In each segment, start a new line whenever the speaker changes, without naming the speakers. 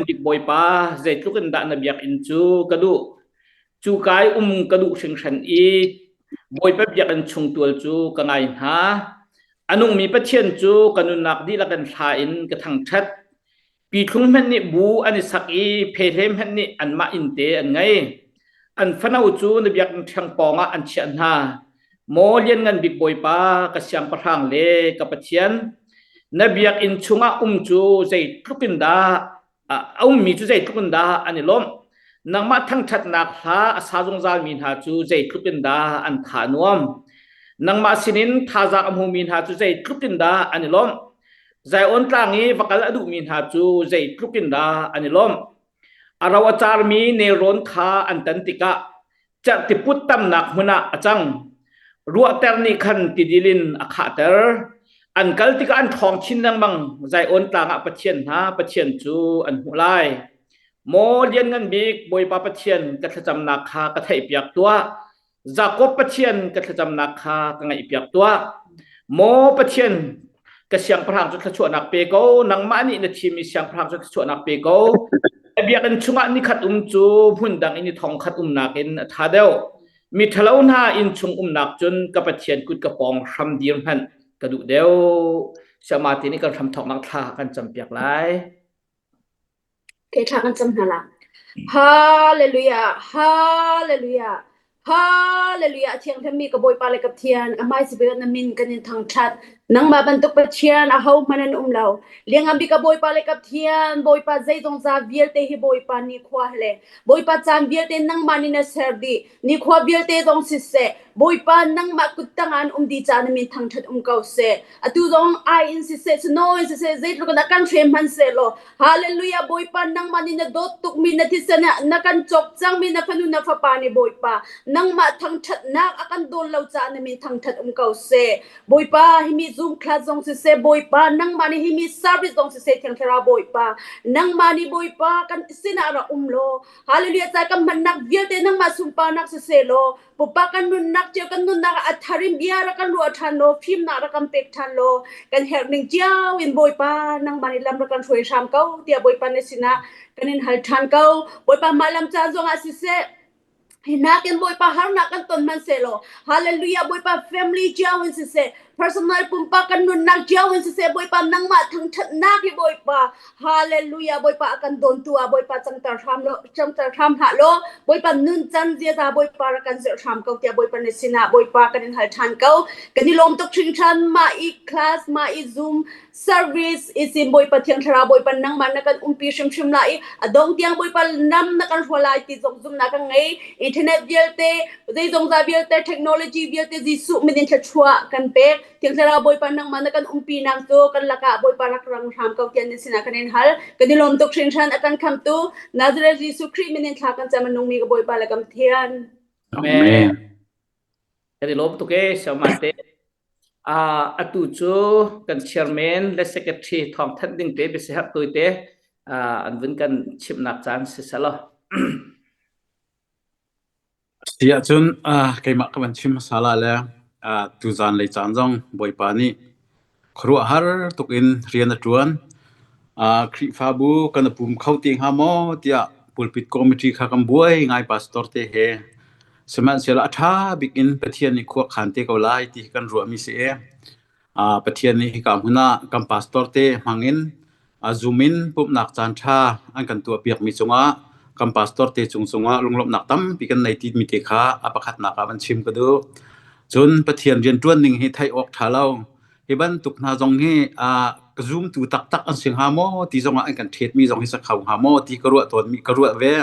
Dik Bawipa zeitluk in dah na biakinn cu ka duh cu kai um ka duh hringhran i Bawipa biakinn chung tual cu ka ngai hna a nungmi Pathian cu ka nunnak dihlak in thla in ka thangṭhat pi thlung hmanh nih bu an i sak i phehlem hmanh nih anmah inn te an ngei an fano cu na biakinn ṭhiang pawng ah an chiah hna Maw Lianngan Bik Bawipa ka siangpahrang le ka Pathian na biakinn chungah um cu zei tlukin dah a ummi cu zei tlukin dah an i lawmh nangmah thangṭhatnak hla a sa zungzalmi hna cu zei tlukin dah an tha nuam nangmah sinin thazang a hmumi hna cu zei tlukin dah an i lawmh Zion tlang i va kal a duhmi hna cu zei tlukin dah an i lawmh a ro a carmi nelrawn kha an tan tikah Cerhtiput tamnak hmun ah a cang. Ruahter nih khan tidil in a khahter. An kal tikah an ṭhawng chin lengmang. Zion tlang ah Pathian hna, Pathian cu an hmuh lai. Maw Lianngan Bik, Bawipa Pathian, ka thlacamnak kha ka theihpiak tuah. Jakob Pathian, ka thlacamnak kha ka ngaihpiak tuah. Maw Pathian, ka siangpahrang cu thluachuahnak pe ko nangmah nih na thimi siangpahrang cu thluachuahnak pe ko biakinn chungah ni khat um cu hmun dang in ni thong khat umnak in a tha deuh mi ṭhalo hna inn chung umnak cun ka pathian kut ka pawng hram dir hmanh ka duh deuh siangma ti nih kan hram thawknak thla kan campiak lai Ke thlak an cam hna la. Hallelujah! Hallelujah! Hallelujah! Thiangthammi ka Bawipa le ka Pathian, ka hmaisabik na min kan in thangṭhat. Nangmah bantuk Pathian ahohmanh an um lo. Liangnganbik ka Bawipa le ka Pathian, Bawipa zeizong za vialte hi Bawipa nikhua le Bawipa caan vialte nangmah nih na ser dih. Nikhua vialte zong siseh, Bawipa nangmah kut tangah an um di ca na min thangṭhat um ko seh. Atu zong ai in siseh, sunawi siseh, zeitluk na kan hrem hman sehlaw, hallelujah Bawipa nangmah nih na dawt tukmi na thisen ah na kan cawk cangmi na fanu na fapa ni Bawipa nangmah thangṭhatnak a kan dawn lo ca na min thangṭhat um ko seh. Bawipa himi zungkhlat zong siseh, Bawipa nangmah nih himi service zong siseh Thiang Thlarau Bawipa nangmah nih Bawipa kan sinah ra um law Hallelujah ca kan hmannak vialte nangmah sunparnak si selaw pupa kan nunnak cio kan nunnak ah atharim ia ra kan ruah than lo fimnak ra kan pek than lo kan herh ning ciao in bawipa nangmah ni lam ra kan hroi hram ko tia bawipa ne sina kan in hal than ko bawipa ma lam ca zong ah si se hi nakin bawipa harnak kan ton man se lo hallelujah bawipa family ciao in si se Personal pumpak kan nunnak cio in siseh Bawipa nangmah thangthatnak hi Bawipa hallelujah Bawipa a kan dawn tu ah Bawipa changter hram law changter hram hlah law Bawipa nun can ziaza Bawipa ra kan zilh hram ko tiah Bawipa na sinah Bawipa kan in hal than ko kan i lawm tuk hringhran ma i class ma i zoom service isim bawipa thiang thlarau bawipa nangmah na kan umpi hrimhrim lai i a dong tiang bawipa nam na kan hrual lai ti zong zumna kan ngei internet vialte zeizong za vialte technology vialte jesuh min in thlachua kan pek thiang thlarau bawipa nangmah na kan umpi nang cu kan lakah bawipa rak rang hram ko tian sina kan in hal kan i lawm tuk hrinhran akan khamtu nazareth jesuh khrih min in thla kan chamanung mi ka bawipa la kam thian amen Kan i lawm tuk ee, Siaman te. Uh, atu cu kan chairman le secretary thawng thanh ding te bisi herh tu te uh, an vun kan chimnak caan si selo. Si ahcun uh, keimah ka van chim masala le uh, tuzan le caan zong Bawipa nih Khuaruahhar tuk in rian a ṭuan. Ah Khrihfabu kan i pum kho te hnga maw tiah pulpit committee kha kan buai ngai pastor te he. Sihmanhsehlaw a ṭha bik in Pathian nih khua khan te ko lai ti hi kan ruahmi si i ah Pathian nih hika hmun ah kan pastor te hmang in a zoom in pumhnak caanṭha an kan tuahpiakmi cungah kan pastor te cung cungah lunglawmhnak tampi kan nei timi te kha a pakhatnak ah van chim ka duh. Cun Pathian rianṭuan ning hi theih awk ṭha lo. Hi bantuk hna zong hi aa ka zoomtu taktak an si hnga maw ti zongah an kan ṭhetmi zong hi sa kho hnga maw ti ka ruah tawnmi ka ruah ve.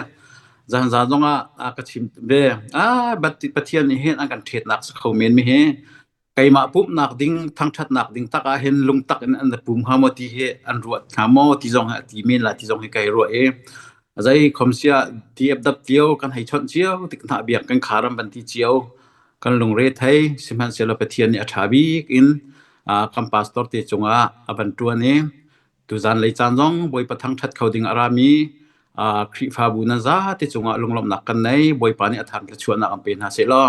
Zanzan zongah a ka chim ve. Ah, Pathian nih hin an kan ṭhetnak sa kho men mi hi keimah pumhnak ding thangṭhatnak ding tak ah hin lungtak in an pum hnga maw ti hi an ruat hnga maw ti zong hi a ti men la ti zong hi kai ruah i a zei khom sia ti ap dap cio kan hei chawnh cio tik hna biak kan kharam ban ti cio kan lungre thei sihmanhsehlaw Pathian nih a ṭha bik in kam pastor te cungah a ban ṭuan i Tuzan lei caan zong Bawipa thangṭhat kho ding a rami uh, Khrihfabu nan zate cungah lunglawmhnak kan nei. Bawipa nih a thang ka chuahnak an pe hna sehlaw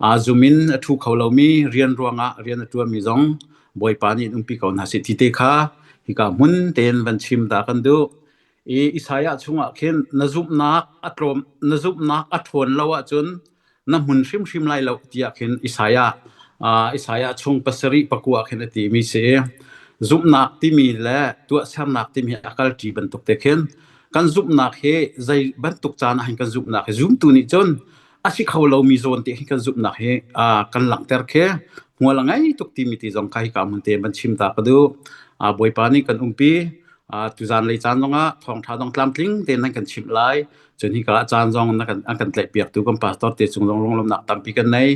uh, zum in a thu kho lomi rian ruangah rian a ṭuanmi zong Bawipa nih in umpi ko hna si ti te kha hika hmun tein van chim ta kan duh. i Isaiah chungah khin na zumhnak a tlawm na zumhnak a ṭhawn lo ahcun na hmun hrimhrim lai lo tiah khin Isaiah uh, Isaiah chung pasarih pakua khin a timi si zumhnak timi le tuahsernak timi a kalṭi bantuk te khin kan zumhnak hi zei bantuk caan ah kan zumhnak hi zumtu nih cun a si kho lomi zawn te hi kan zumhnak hi uh, kan langhter khi hmual a ngei tuk timi ti zong ka hi ka mun te man chim ta ka du uh, bawipa nih kan umpi uh, tuzan lei caan zongah thawngtha dong tlamtling te nan kan chim lai cun hi ka caan zong na kan an kan tlai piak tu kan pastor te chung zong rong lomnak tampi kan nei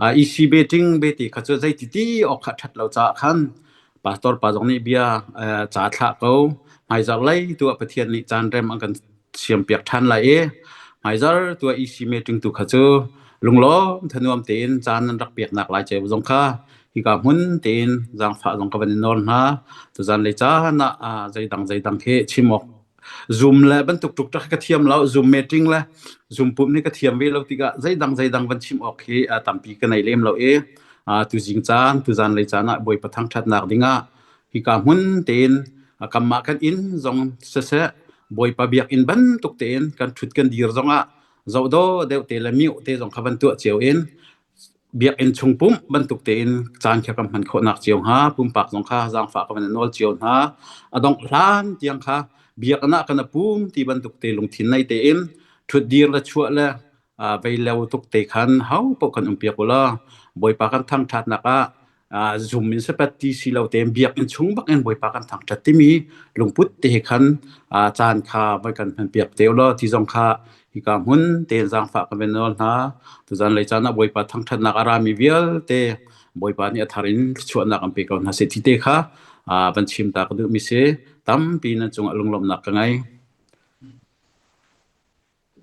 uh, ec betting beti kha chu zei ti ti ok khat that lo cha khan pastor pa zong nih bia ca thlah ko hmaizar lei tu ah Pathian nih caan rem an kan siam piak ṭhan lai i hmaizar tu ah EC meeting tu kha cu lunglawm thanuam tein caan nan rak piaknak lai ceu zong kha hika hmun tein zaangfah zong ka van i nawl hna tuzan le caan ah zeidang zeidang khi chim awk Zoom le bantuk tuk ṭak hi ka thiam lo. Zoom meeting le Zoom pump hi ka thiam ve lo tikah zeidang zeidang van chim awk hi aa tampi ka nei lem lo i tuzing caan tuzan lei caan ah Bawipa thangṭhatnak dingah hika hmun tein kanmah kan inn zong siseh Bawipa biakinn bantuk tein kan ṭhut kan dir zongah zohdawh deuh te le mioh te zong kha van tuah cio in Biakinn chung pumh bantuk tein caan kha kan hman khawhnak cio hnga pumpak zong kha zaangfah kan in nawl cio hna. A dongh hlan tiang kha biakinn ah kan pum ti bantuk te lungthin nei tein ṭhutdir le chuah le vei leo tuk te khan hopaoh kan um piak ulaw Bawipa kan thangṭhatnak ah uh, zoom in sepat ti si lo te biak in chung bak in boipa kan thang tat timi lungput te he khan uh, chan kha vai kan phan piak te lo ti zong kha hi ka hun te zang fa ka benol na tu zan lei chana boipa thang that nak arami vial te boipa ni athar in chuan nak am pe ko na se ti te kha uh, ban chim ta ka du mi se tam pi na chung alung lom nak ka ngai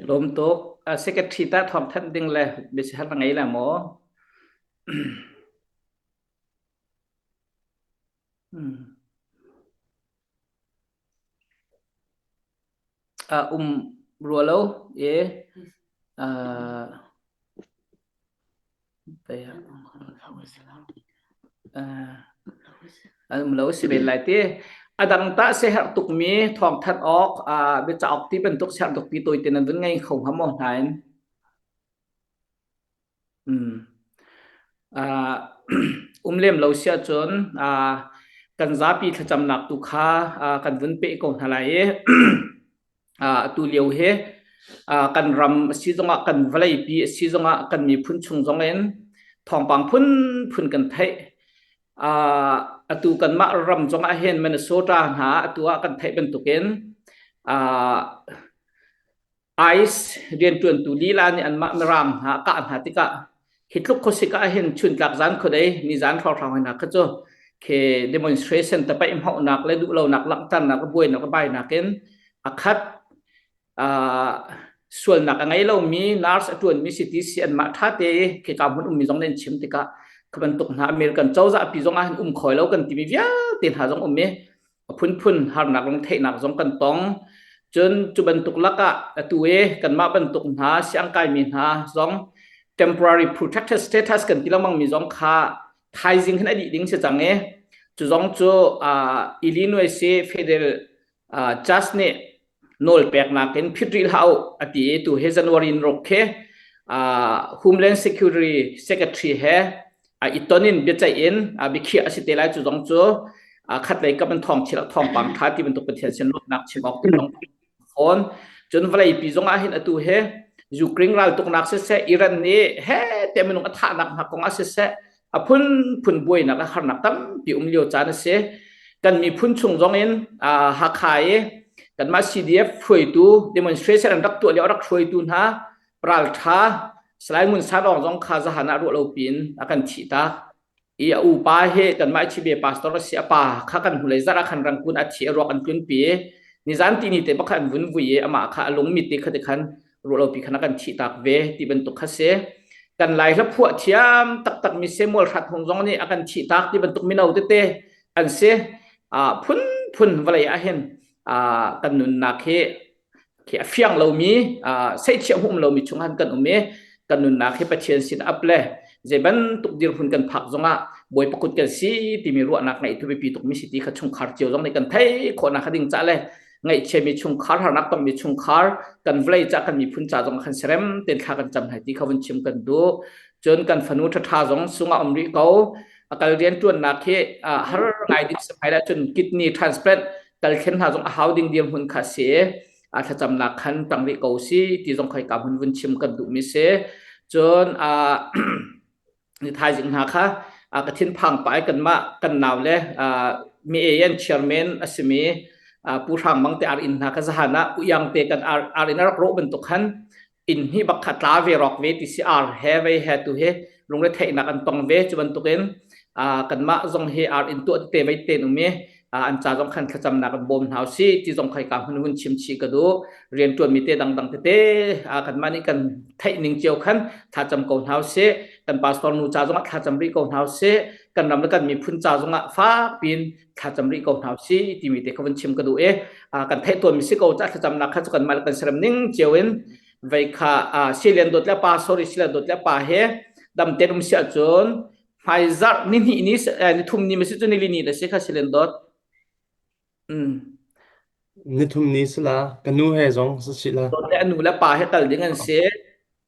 lom to secretary ta thom than ding le bi se hal ngai la mo A um rua lo e an um lo si ven lai ti adang ta se her tuk mi thong that ok a be chaok ti bantuk ser tuk pi toy te nan vun ngai kho ha mo hnain Mm. Uh, um lem lo sia cun uh, kan zapi thlacamnak tu kha uh, kan vun pe ko hna lai i uh, tu lio he uh, kan ram si zongah kan vawlei pi si zongah kan miphun chung zong in thawngpang phun phun kan theih uh, atu kan mah ram zongah hen Minnesota hna atu ah kan theih bantukin uh, ICE rianṭuantu lila nih anmah mirang hna a kah hna tikah hi tluk khuasik ah hin chuntlak zan khuadei nizan hrawhhrang hoi nak kha cu khi demonstration tapaih hmohnak le duhlonak langhternak le buainak le bainak in a khat uh, sualnak a ngei lomi nurse a ṭuanmi CTC anmah ṭhate i khika hmun ummi zong nih an chim tikah kha bantuk hna American cozah pi zong ah hin um khawi lo kan timi vialte hna zong um i A phunphun harnak lungtheihnak zong kan tong. Cun cu bantuk lakah atu i kanmah bantuk hna siangkaimi hna zong temporary protection status kan ti lengmang mi zong kha thaizing khin a dih ding si cang i cu zong cu uh, Illinois i Federal uh, Judge nih nawl peknak in phit rih hlah u a ti i tu hi January in ruk khi Homeland Security Secretary he a iton in biaceih in a biakhiah a si te lai cu zong cu khatlei kam an thong chilak thong pang tha ti bantuk Pathian sin lawmnak chim awk tin fawn cun vawlei pi zong ah hin atu he Ukraine ral tuknak siseh Iran nih he te minung a thahnak hna kong ah siseh a phunphun buainak a harnak tampi um lio caan a si kan miphun chung zong in Hakha i kanmah CDF hruaitu demonstration an rak tuah lio rak hruaitu hna raltha Salai Ngun Sarong zong kha zahan ah ruah lo pin a kan thih ta i a upa he kanmah chibe pastor si a pa kha kan hnulei zara khan rangkun a thi a ruak an tlun pi ni zan ti ni te bak an vun vui i ama kha a lung mit ti kha ti khan ruah lopi khana kan thi tak ve ti bantuk kha si kan lai hla phuah thiam taktak mi Samuel Hrat Hung zong nih a kan thi tak ti bantuk mino tete an si phun phun vale a hin kan nunnak hi khi a fiang lomi sei thiam hum lomi chung han kan um i kan nunnak hi pathian sin ap le je ban tuk dir hun kan phak zongah boi pakut kan si timi ruahnak ngei tu bipi tuk mi si ti kha chungkhar cio zong nih kan thei khona kha ding cha le ngaihchiami chungkhar harnak tongmi chungkhar kan vawlei cah kan miphun ca zong kan serem ten thla kan cam hai ti kha vun chim kan du cun kan fanu ṭhaṭha zong sungah um rih ko akal rian ṭuannak hi har ngai ding samai la cun kidney transplant kal khen hna zong a hau ding dir hun kha si a thlacamnak khan tang rih ko si ti zong khoi ka hun vun chim kan duh mi si cun a ni thaizing hna kha uh, ka thinphang pai kanmah kan nau le uh, mi eyen chairman asimi uh, pu hrang mang te ar in hna ka zahana pu yang te kan ar, ar in rak ro ban to khan in hi bakha tla ve rok ve ti si ar he ve he tu he lungre theina kan tong ve chuban tukin uh, kanmah zong hi ar in tu te vai te nu mi an ca zong khan thlacamnak in bawm hna usih ti zong khai ka hun hun chim chi ka du riantuan mi te dangdang tete a kan mani kan theih ning cio khan thlacam ko hna usih kan pastor nu ca zong ah thlacam rih ko hna usih kan ram le kan miphun ca zong ah fak pin thlacam rih ko hna usih ti mi te ka hun chim ka du e kan theih tuan mi si ko ca thlacamnak kha chu kan mal kan seram ning cio in vei kha silian dot le pa sorry silian dot le pa he dam terum sia cun Hmaizarh nihnih ni nithum ni masi cu nilini na si kha silen dot. Mm. Nithum ni sila ka nu he zong si la. Dot le anu le pa he kal ding an si.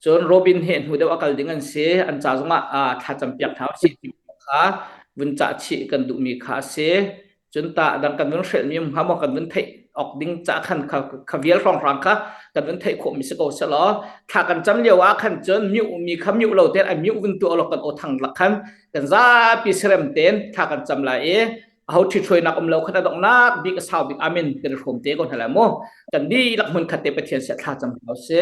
Cun Robin he hnu deuh a kal ding an si. An ca zong ah thlacam piak thau si kha vun cah chih kan duhmi kha a si. cun ta dang kan vun hrelmi um hnga maw kan vun theih ok ding ca khan kha kha vial hrawng hrang kha kan vun theih khawh mi si ko se law thla kan cam lio ah khan cun miu mi kha miu lo ten a miu vun tu lo kan o thang lak khan kan zapi serem ten thla kan cam lai i ho thi thoi nak um lo khana dong nak bi ka sau bik amen kan rom te ko hna la mu kan bi lak mun khatte pathian se thla cam ko se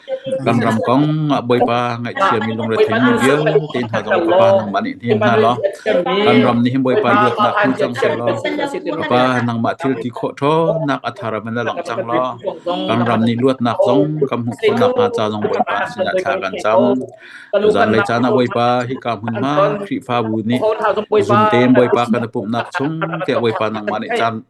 Kan ram kong ah Bawipa ngaihthiammi lungretheimi vialte hna zong Fapa nangmah nih hnem hna law kan ram nih hin Bawipa luatnak hmu cang sehlaw Fapa nangmah thil ti khawh ṭhawnnak a thar in na langh cang law kan ram nih luatnak zong kan hmuh khawh nakhnga ca zong Bawipa sinah thla kan cam. Zanlei caan ah Bawipa hika hmunhma Khrihfabu nih zumtein Bawipa kan i pumhnak chung tiah Bawipa nangmah nih caan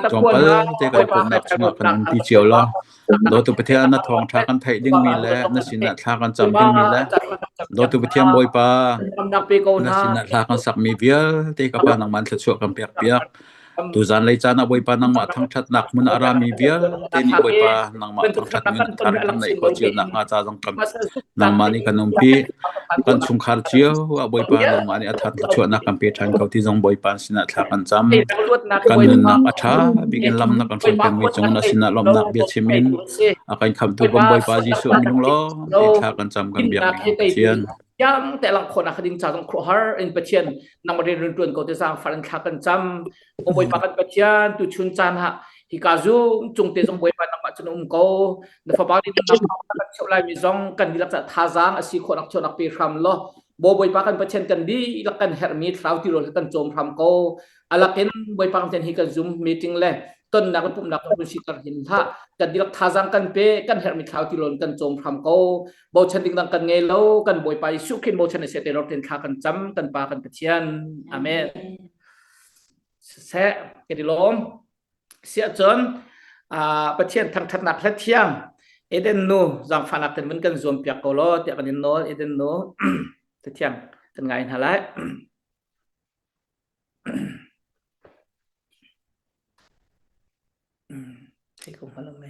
tlawmpal te kan i pumhnak chungah kan nunpi cio law Dawtu Pathian na thawngṭha kan theih dingmi le na sinah thla kan cam dingmi le Dawtu Pathian Bawipa na sinah thla kan sakmi vialte ka Pa nangman thluachuah kan pekpiak. Tu zanlei caan ah Bawipa nangmah thangṭhatnak hmun a rami vialte nih Bawipa nangmah thangṭhat in than kan neih khawh cionak hnga ca zong kam nangmah nih kan umpi. Kan chungkhar cio ah Bawipa an umah nih a thar thluachuahnak kan pe ṭhan ko ti zong Bawipa sinah thla kan cam. Kan nunnak a ṭha bikin lamnak kan hruai pengmi cung na sinah lawmhnak bia chim in a kan khamhtu kan Bawipa Jesuh a minung lawm ti thla kan cam kan biakmi kan Pathian. Yam te lang khona khading cha zong khuahar in Pathian nang mari run tuan ko te sang faran thla kan cam Ka Bawipa kan Pathian tu chun caan ha hika zung chung te zong Bawipa nangmah cun um ko na fapa nih nangmah kan cheu lai mi zong kan dilak ca thazaang asi kho nak cheunak pe hram lo bo Bawipa kan Pathian kan di lak kan herh mi thlau ti rol kan chom hram ko alakin Bawipa kan hi kan zoom meeting le tonnak le pumnak kan si tar hin ha kan dilak thazaang kan pe kan herh mi thlau ti rol kan chom hram ko bo chan ding dang kan ngei lo kan Bawipa Yesu Christ bo chan se te ror ten thla kan cham kan pa kan Pathian amen seh kan i lawm siah cun pathian thangthatnak hla thiang eden nu zangfahnak ten kan zuam piak ko lo tiah kan in nawl eden nu tithiang kan ngai hna lai Take off my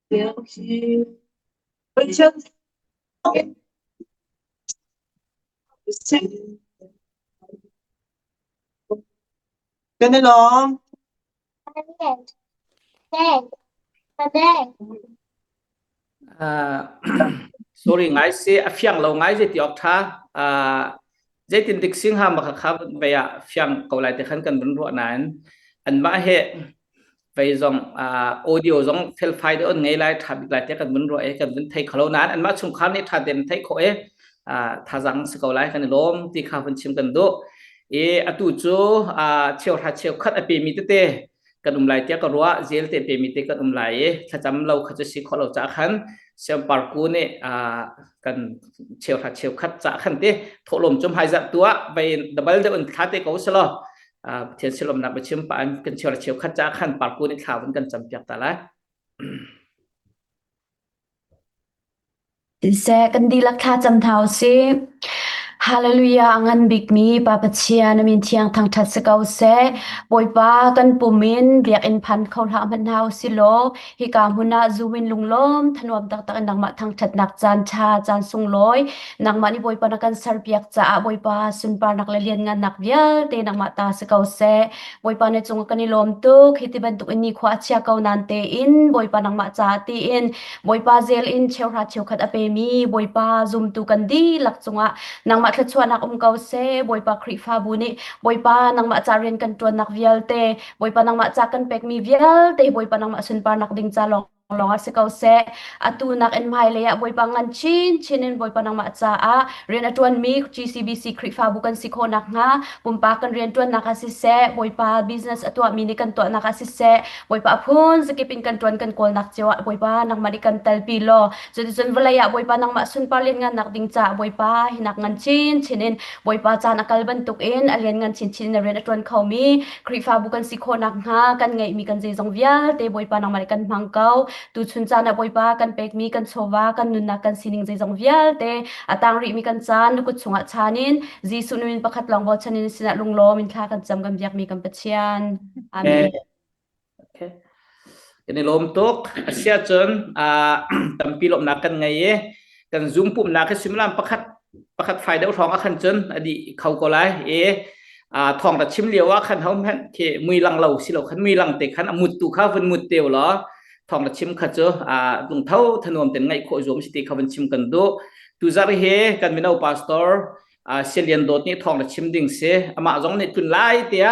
Lio hi Kan i lawm. Uh, sorry ngai se a fiang lo ngai se ti awk tha. Uh, Zeitintik singhang bak kha vei ah fiang ko lai te khan kan vun ruah nain anmah he vei zong audio zong felfai te on ngei lai tha bik lai te kan vun ruah i kan vun thei kholo nain anmah chungkhar nih tha tein thei khawh i thazang si ko lai kan i lawm ti kha hun chim kan duh i atu cu cheuhra cheukhat a pemi tete kan um lai tiah ka ruah zel te pe mi te kan um lai i thlacam lo kha chu si khawh lo ca khan siam parku nih kan cheu ha cheu khat ca khan te thawhlawm cum hai za tua vai double de un thla te ko selo thian silom nak bachim pa an kan cheu cheu khat ca khan parku nih thla kan cam piak ta lai Siseh kan dihlak thla cam hna u sih. Hallelujah a ngan bikmi Pa Pathian na min thiang thangṭhat si ko seh. Bawipa kan pum in biakinn phan kho hlah hmanh hna u si law hika hmun ah zu in lunglawm thanuam taktak in nangmah thangṭhatnak caan ṭha caan sunglawi nangmah nih Bawipa na kan serpiak caah Bawipa sunparnak le lianngannak vialte nangmah ta si ko seh. Bawipa ne cungah kan i lawm tuk. Hi ti bantuk in nikhua a chia ko nain tein Bawipa nangmah caah tiin Bawipa zel in cheuhra cheukhat a pemi Bawipa zumtu kan dihlak cungah nangmah thluachuahnak um ko seh. Bawipa Khrihfabu nih Bawipa nangmah ca rian kan ṭuannak vialte, Bawipa nangmah ca kan pekmi vialte, Bawipa nangmah sunparnak ding ca lawng lawngah si ko seh. Atu nak in hmailei ah Bawipa ngan chinchin in Bawipa nangmah caah rian a ṭuanmi GCBC Khrihfabu kan si khawh nakhnga pumpak kan rian ṭuannak ah siseh, Bawipa business a tuahmi nih kan tuahnak ah siseh, Bawipa a phun zakip in kan ṭuan kan kawlnak cio ah Bawipa nangmah nih kan telpi law cuticun vawlei ah Bawipa nangmah sunpar lianngannak ding caah Bawipa hinak ngan chinchin in Bawipa caan a kal bantuk in a lianngan chinchin in a rian a ṭuan khomi Khrihfabu kan si khawh nakhnga kan ngeihmi kan zeizong vialte Bawipa nangmah nih kan hmang ko. Tuchun caan ah Bawipa kan pekmi kan chawva kan nunnak kan sining zeizong vialte a tang rihmi kan caan na kut chungah chan in Jesuh numin pakhat lawng bochan in sinah lunglawm in thla kan cam kan biakmi kan Pathian. Amen. Okay. Kan i lawm tuk. Asia cun tampi lawmnak kan ngei i kan zoom pumnak hi similam pakhat pakhat fai deuh hrawng a khan cun adi kho ko lai i thong ta chim lio a khan hom hen khi mui lang lo si lo khan mui lang te khan amut tu kha vun mut teo lo thong ta chim kha cu lung tho thanuam ten ngai kho zuam si ti kha vun chim kan du tu zar hi kan mino pastor silian dot ni thong ta chim ding si ama zong nih tun lai tia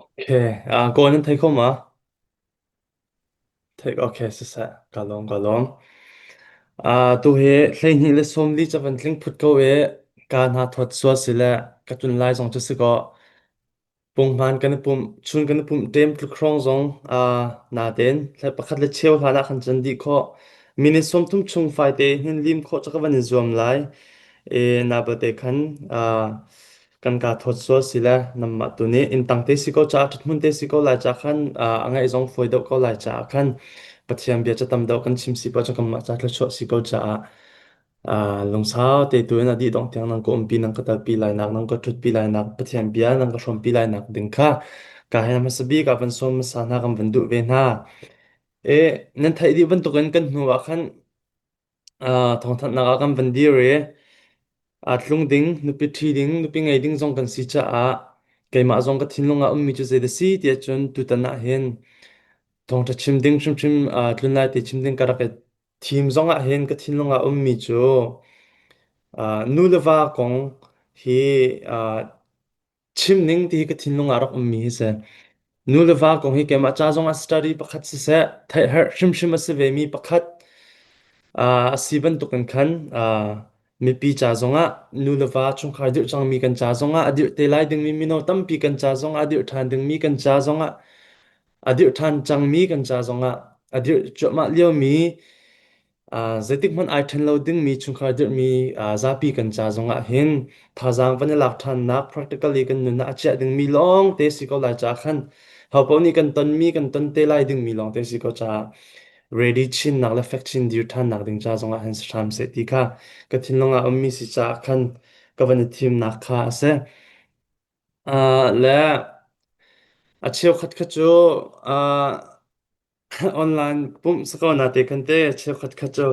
Okay. Ah, kawi nan thei khom ah? Theih, okay, siseh. Ka lawm, ka lawm. Ah, tu hi hleihnih le sawm li ca van tling phut ko i ka hna thawt sual si le ka tlun lai zong cu si kaw punghman kan i pumh, chun kan i pumh tem tlukhrong zong ah na ten le pakhat le cheu hlan ah khan cun dih khawh. Minute sawm thum chung fai te hin lim khawh ca ka van in zuam lai. E na bate khan ah kan kaa thawt sual si le nanmah tu nih inntang te si ko caah ṭhithmun te si ko lai caah khan ah, a ngaih zong fawi deuh ko lai caah khan Pathian bia ca tam deuh kan chim si pa cu kanmah ca thluachuah si ko caah ah, lungsau te tu in a dih dongh tiang nang ka umpi nang ka talpi lainak nang ka ṭhutpi lainak Pathian bia nang ka hrawmpi lainak ding kha ka hei hmasa bik ah van sawm hmasa hna kan van duh ve hna. E, nan theih dih bantukin kan hnu ah khan thawngthanhnak ah kan van dir i aa tlung ding, nupi ṭhi ding, nupi ngei ding zong kan si caah keimah zong ka thinlung ah ummi cu zei dah si tiah cun tutan ah hin thawngṭha chim ding hrimhrim tlun lai te chim ding ka rak i thim zong ah hin ka thinlung ah ummi cu nu le va kong hi Chimning ti hi ka thinlung ah rak ummi hi si. Nu le va kong hi keimah ca zongah study pakhat siseh, theihherh hrimhrim a si vemi pakhat ah a si bantukin khan ah mipi ca zongah, nu le va chungkhar dirh cangmi kan ca zongah, a dirh te lai dingmi mino tampi kan ca zongah, a dirh ṭhan dingmi kan ca zongah, a dirh ṭhan cangmi kan ca zongah, a dirh cuahmah liomi Ah, zeitikhmanh ai ṭhen lo dingmi chungkhar dirhmi ah, zapi kan ca zongah hin thazaang van i lak ṭhannak practically kan nunah a chiah dingmi lawngte si ko lai caah khan ho paoh nih kan tonmi, kan ton te lai dingmi lawngte si ko caah ready chinnak le fek chin dir ṭhannak ding ca zongah hin si hram seh ti kha ka thinlung ah ummi si caah khan ka van i thimnak kha a si. Ah, le a cheukhat kha cu ah Online pumh si ko nate kan te cheukhat khat cu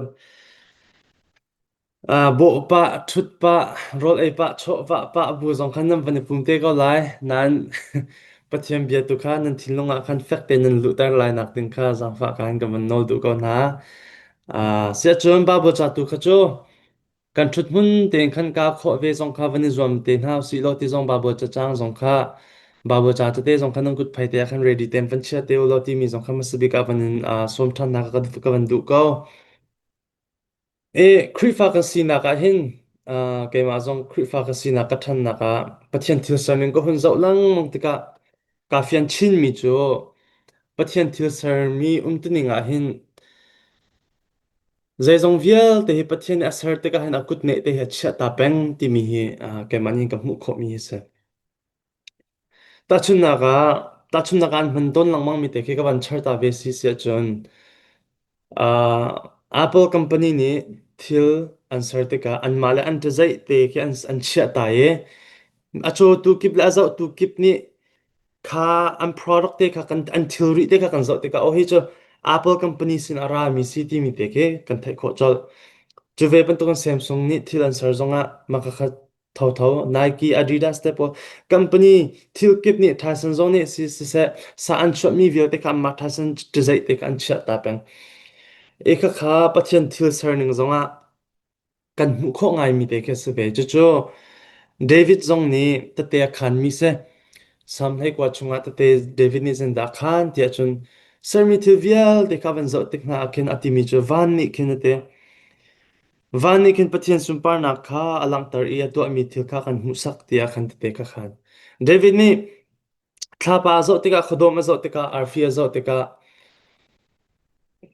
ah bawh pah ṭhut pah rawl ei pah chawh vah pah bu zong khan nan van i pum te ko lai nain Pathian bia tu kha nan thinlung ah khan fek tein nan luhter lai nak ding kha zaangfah ka in ka van nawl duh ko hna. Ah siahcun Bible ca tu kha cu Kan ṭhuthmun tein khan kaa khawh ve zong kha van i zuam te hna usih law ti zong Baibal cacang zong kha Baibal ca tete zong kha nan kut phai te ah khan ready tein van chia te u law timi zong kha hmasabik ah van in aa sawm ṭhan hna kha ka van duh ko. E Khrihfa kan sinak ah hin uh, keimah zong Khrihfa ka sinak ka ṭhannak ah Pathian thil serning ka hun zoh lengmang tikah kaa fian chinmi cu Pathian thil sermi umtuning ah hin Zeizong vialte hi Pathian nih a ser tikah hin a kut neh te hi a chiah ta peng timi hi uh, keimah nih ka hmuh khawhmi hi a si. Tahchunhnak ah, tahchunhnak ah an hman tawn lengmang mi te khi ka van char ta ve si si ahcun uh, Apple company nih thil an ser tikah anmah le an ṭazaih te khi an, an chiah ta i a cawtu kip le a zohtu kip nih kha an product te kha kan an thilri te kha kan zoh tikah ohi cu Apple company sin a rami si timi te khi kan theih khawh colh. Cu ve bantukin Samsung nih thil an ser zongah mah kha thotho Nike, Adidas te pawl company thil kip nih Tyson zong nih si siseh sa an chuahmi vialte kha mah Tyson cizei te kha an chiah ta peng. Ikhakha Pathian thil ser ning zongah kan hmuh khawh ngaimi te khi a si ve. Cucu David zong nih tete a khanmi si. Psalm hleikua chungah tete David nih cun dah a khan tiah cun sermi thil vialte kha a van zoh tik hna ah khin a timi cu van nih khin a ti. Van nih khin Pathian sunparnak kha a langhter i a tuahmi thil kha kan hmuhsak tiah khan tete ka khan. David nih Thlapa a zawh tikah, khuadawm a zawh tikah, arfi a zawh tikah,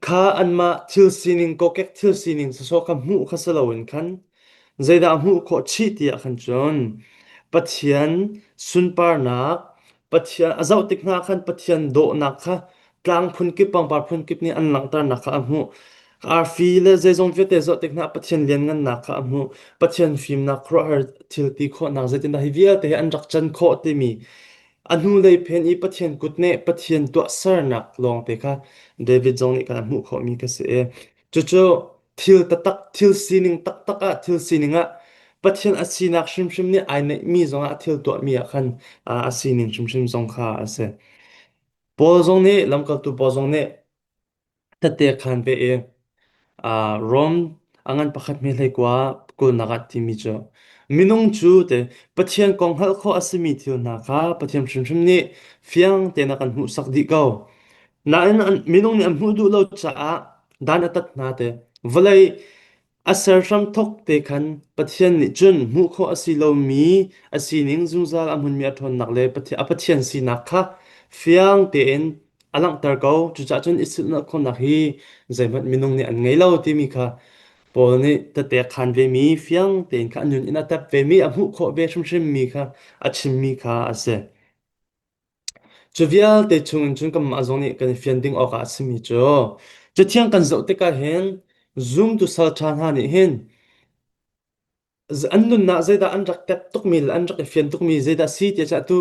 kha anmah thil sining, kokek thil sining sawsawh kha hmuh kha si loin khan zeidah hmuh khawh chih ti ah khan cun Pathian sunparnak, Pathian a zoh tik hna khan Pathian dawhnak kha tlang phun kip pangpar phun kip nih an langhternak kha a hmuh. Arfi le zeizong vialte zoh tik hna Pathian lianngannak kha a hmuh. Pathian fimnak khuaruahhar thil ti khawhnak zeitindah hi vialte hi an rak can khawh timi a hnulei phen i Pathian kut nih Pathian tuahsernak lawngte kha David zong nih khan a hmuh khawhmi kha si i cucu thil tatak, thil sining taktak ah, thil sining ah Pathian a sinak hrimhrim nih ai neihmi zongah a thil tuahmi ah khan a sining hrimhrim zong kha a si. Paul zong nih lamkaltu Paul zong nih tette a khaan ve i uh, Rom a ngan pakhat mi hleikua kulnak ah timi cu minung cu te Pathian kong hngalh khawh a simi thil hna kha Pathian hrimhrim nih fiang tein a kan hmuhsak dih ko. Nain an, minung nih an hmuh duh lo caah dan a tat hna te. Vawlei A ser hramthawk te khan Pathian nih cun hmuh khawh a si lomi a sining zungzal a hmunmi a ṭhawnnak le a Pathian sinak kha fiang tein a langhter ko. Cucaah cun i silhnak khawhnak hi zeihmanh minung nih an ngei lo timi kha Paul nih tatekhan vemi, fiang tein kha a nun in a tep vemi, a hmuh khawh ve hrimhrim mi kha a chimmi kha a si. Cu vialte chungin cun kanmah zong nih kan i fian ding awkah a simi cu Cathiang kan zoh tikah hin zumtu salṭha hna nih hin an nunnak zeidah an rak ket tukmi le an rak i fian tukmi zeidah a si ti a tu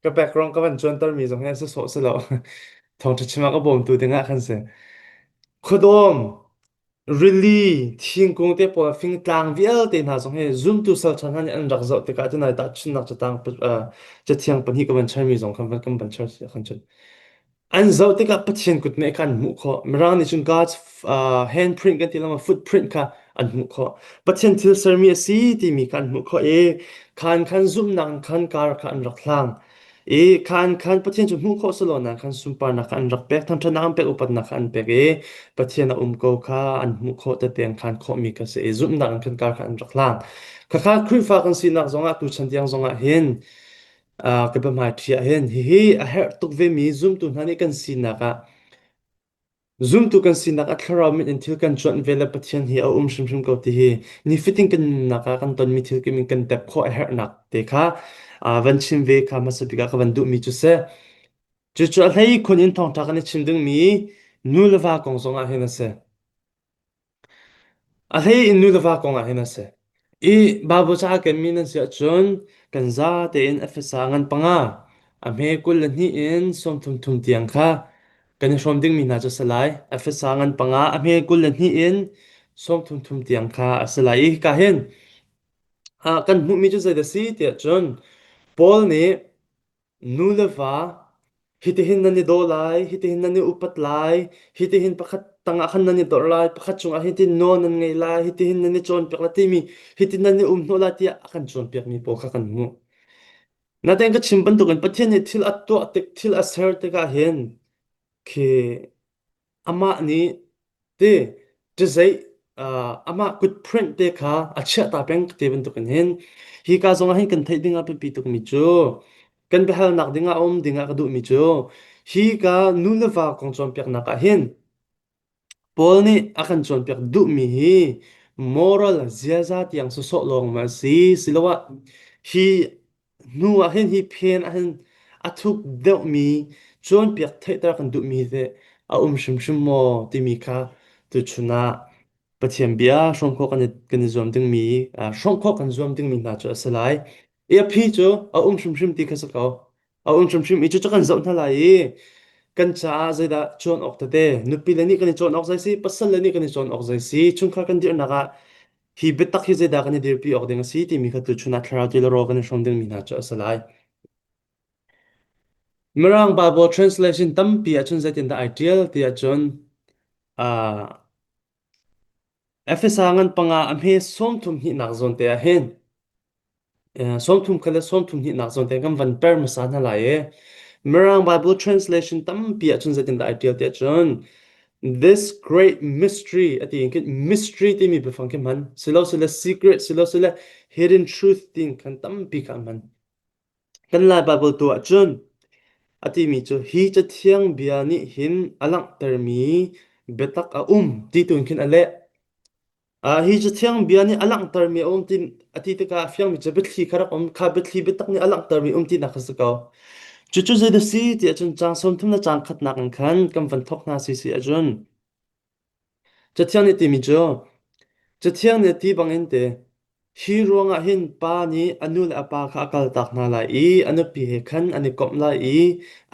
ka background ka van cuantermi zong hi an si sawh si lo. Thawngṭha chim a ka bawmtu dingah kan si. Khuadawm, Rili, thingkung te pawl, fingtlang vialte hna zong hi zumtu salṭha hna nih an rak zoh tikah cun ai tahchunhnak catang uh, cathiang pahnih ka van chaimi zong kha kan van char kan chun. An zoh tikah Pathian kut nih khan an hmuh khawh. Mirang nih cun God's uh, handprint kan ti lama footprint kha an hmuh khawh. Pathian thil sermi a si timi kha an hmuh khawh i khan khan zumhnak in khan kar kha an rak hlang. I khan khan Pathian cu hmuh khawh selaw khan sunparnak kha an rak pek, thangṭhatnak an pek, upatnak kha an pek i Pathian a um ko kha an hmuh khawh te peng khan khawhmi ka si i zumhnak in khan kar kha an rak hlang. Khakha Khrihfa kan sinak zongah tuchan tiang zongah hin uh, ka biahmai ṭhi ah hin hihi a herh tuk vemi zumtu hna nih kan sinak ah Zumtu kan sinak a thlarau mit in thil kan cuanh ve le Pathian hi a um hrimhrim ko ti hi nifatin kan nunnak ah kan tonmi thil kim in kan tep khawh a herhnak te kha uh, van chim ve kha hmasa bik ah ka van duhmi cu si. Cucu a hlei khun in thawngṭha kan i chim dingmi nu le va kong zong ah hin a si. A hlei in nu le va kongah hin a si. I Baibal caah kan mi nan si ahcun kan za tein Efesa ngan panga, a hme kul le hnih in sawmthum thum tiang kha kan i hrawm dingmi hna cu a si lai. Efesa ngan panga, a hme kul le hnih in sawmthum thum tiang kha a si lai. I hika hin ah kan hmuhmi cu zeidah a si tiah cun Paul nih Nu le va, hitihin nan i daw lai, hitihin nan i upat lai, hitihin pakhat tangah khan nan i dorh lai, pakhat cungah hitin nawl nan ngei lai, hitihin nan i cawnpiak lai timi hitin nan i umhnawh lai tiah a kan cawnpiakmi pawl kha kan hmuh. Natein ka chim bantukin Pathian nih thil a tuah tik, thil a ser tikah hin khi Amah nih ti ṭizeih amah kutphurenh te kha a chiahta peng ti bantukin hin hika zongah hin kan theih dingah biapi tukmi cu kan biahalnak dingah a um dingah ka duhmi cu hika nu le va kong cawnpiaknak ah hin Paul nih a kan cawnpiak duhmi hi moral ziaza tiang sawsawh lawng maw a si siloah hi Hnu ahhin hi phen ahhin a thuk deuhmi cawnpiak theihter kan duhmi te a um hrimhrim maw timi kha tuchun ah Pathian bia hrawm khawh kan i, kan i zuam dingmi hrawm khawh kan zuam dingmi hna cu a si lai. I aphi cu a um hrimhrim ti kha si ko. A um hrimhrim i cucu kan zoh hna lai i kan caah zeidah cawn awk tete, nupi le nih kan i cawn awk zei si, pasal le nih kan i cawn awk zei si, chungkhar kan dirhnak ah Hi biatak hi zeidah kan i dirpi awk ding a si timi kha tuchun ah thlarau tiloro kan i hrawm dingmi hna cu a si lai. Mirang Bible translation tampi ahcun zeitindah ai ṭial ti ahcun uh, Efesa ngan panga a hme sawmthum hnihnak zawn te ah hin Sawmthum khat le sawmthum hnihnak zawn te kan van per hmasa hna lai i Mirang Bible translation tampi ahcun zeitindah ai ṭial tiah cun This great mystery ati in khin mystery timi biafang khi hman silosile secret silosile hidden truth tiin khan tampi kha an hman. Kan Lai Bible tu ahcun a timi cu hi cathiang bia nih hin a langhtermi biatak a um ti tu in khin a leh. Hi cu thiangbia nih a langhtermi a um ti a ti tikah a fiangmi cu biathli kha rak um kha biathli biatak nih a langhtermi um tinak kha si ko. Cucu zeidah a si ti ahcun caang sawmthum le caang khatnak in khan kan van thawk hna si si ahcun Cathiang nih a timi cu Cathiang nih a ti bangin ti: Hi ruangah hin pa nih a nu le a pa kha a kaltak hna lai i a nupi he khan an i komh lai i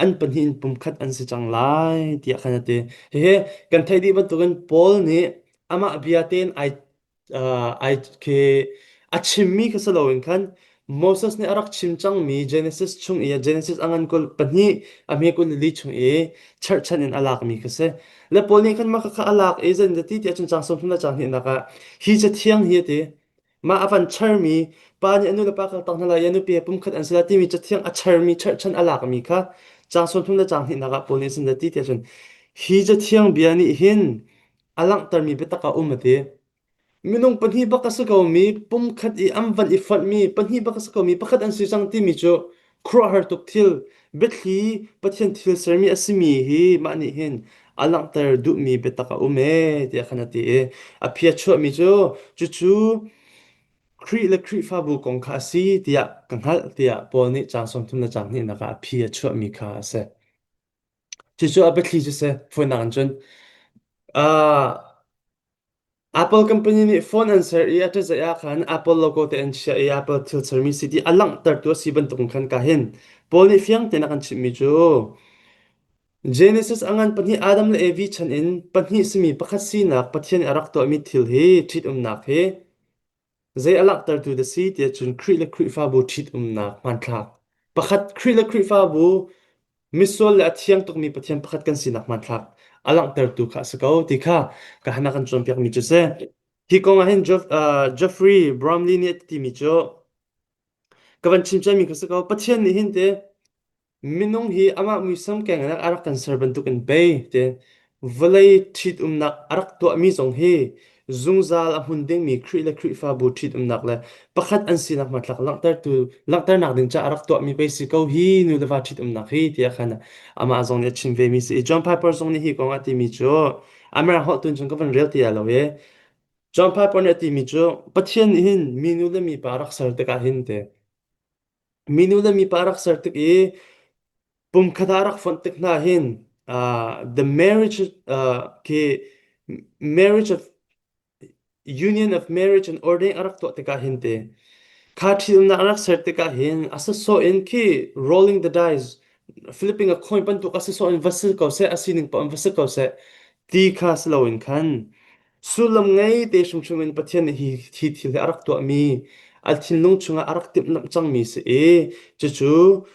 an pahnih in pumkhat an si cang lai tiah khan a ti. Hihi kan theih dih bantukin Paul nih amah bia tein ai uh, ai khi a chimmi kha si loin khan Moses nih a rak chim cangmi Genesis chung i a Genesis a ngan kul pahnih a hme kul li chung i cherhchan in a lakmi kha si. Na pawl nih kanmah kha a lak i zenzati tiah cun caang sawm thum le caang hnihnak ah hi cathiang hi a ti. Mah a van charmi pa nih a nulepa kha tang hna lai i a nupi he pumkhat an si lai timi cathiang a charmi cherhchan a lakmi kha caang sawmthum le caang hnihnak ah pawl nih zenzati tiah cun hi cathiang bia nih hin a langhtermi biatak a um a ti. Minung pahnih bak a si komi, pumkhat i an van i fonhmi pahnih bak a si komi pakhat an si cang timi cu khuaruahhar tuk thil, biathli Pathian thil sermi a simi hi mah nih hin a langhter duhmi biatak a um ee tiah khan a ti i a phi a chuahmi cu cucu Khrih le Khrihfabu kong kha a si tiah ka hngalh tiah Paul nih caang sawmthum le caang hnihnak ah a phi a chuahmi kha a si. Cucu a biathli cu a si. Fawinak in cun, ah Apple company nih phone an ser i a ṭazaih ahkhan Apple logo te an chiah i Apple thil sermi si ti a langhtertu a si bantuk in khan ka hin Paul nih fiang tein a kan chimhmi cu Genesis a ngan pahnih Adam le Evi chan in pahnih simi pakhat sinak Pathian nih a rak tuahmi thil hi ṭhitumnak hi Zei a langhtertu na si tiah cun Khrih le Khrihfabu ṭhitumnak hmanthlak. Pakhat Khrih le Khrihfabu misual le a thiang tukmi pathian pakhat kan sinak hmanthlak a langhtertu kha a si ko ti kha ka han kan cawnpiakmi cu si. Hi kong ah hin Jeff, uh, Jeffrey Bromley nih a timi cu ka van chim ciami kha si ko. Pathian nih hin te Minung hi amah muisam kengnak a rak kan ser bantukin pei te vawlei ṭhitumnak a rak tuahmi zong hi zungzal a hmun dingmi Khrih le Khrihfabu ṭhitumnak le pakhat an sinak hmatlak langhtertu langhternak ding caah a rak tuahmi pei si ko hi nu le va ṭhitumnak hi tiah khan amah zong nih a chim vemi si i John Piper zong nih hi kong a timi cu America holh tun cun ka van rel ti ai lo i John Piper nih a timi cu Pathian nih hin minu le mipa rak ser tikah hin te Minu le mipa rak ser tik i pumkhat ah rak fonh tik hna hin uh, the marriage uh, khi marriage of union of marriage and ordain a rak tuah tikah hin te kha thilnak rak ser tikah hin asasaw in khi rolling the dice Philippine a khoi bantuk asasaw in va sil ko seh asining pa in va sil ko seh ti kha si loin khan Sullam ngei te hrimhrim in Pathian nih hi, hi thil hi a rak tuahmi, a thinlung chungah a rak timhlamh cangmi si i, cucu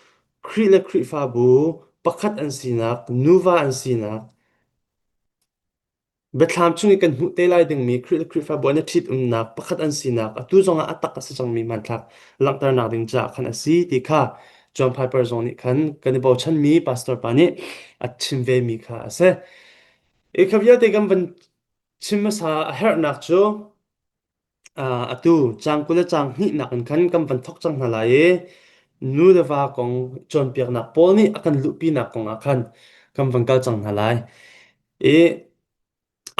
Khrih le Khrihfabu pakhat an sinak, nuva an sinak, biathlam chung i kan hmuh te lai dingmi Khrih le Khrihfabu an i ṭhitumnak pakhat an sinak atu zongah a tak a si cangmi hmanthlak langhternak ding caah khan a si ti kha John Piper zong nih khan kan i bochanmi pastor pa nih a chim vemi kha a si. E kha vialte kan van chim hmasa a herhnak cu uh, atu caang kul le caang hnihnak in khan kan van thok cang hna lai i nu le va kong cawnpiaknak pawl nih a kan luhpinak kong ah khan kan van kal cang hna lai. I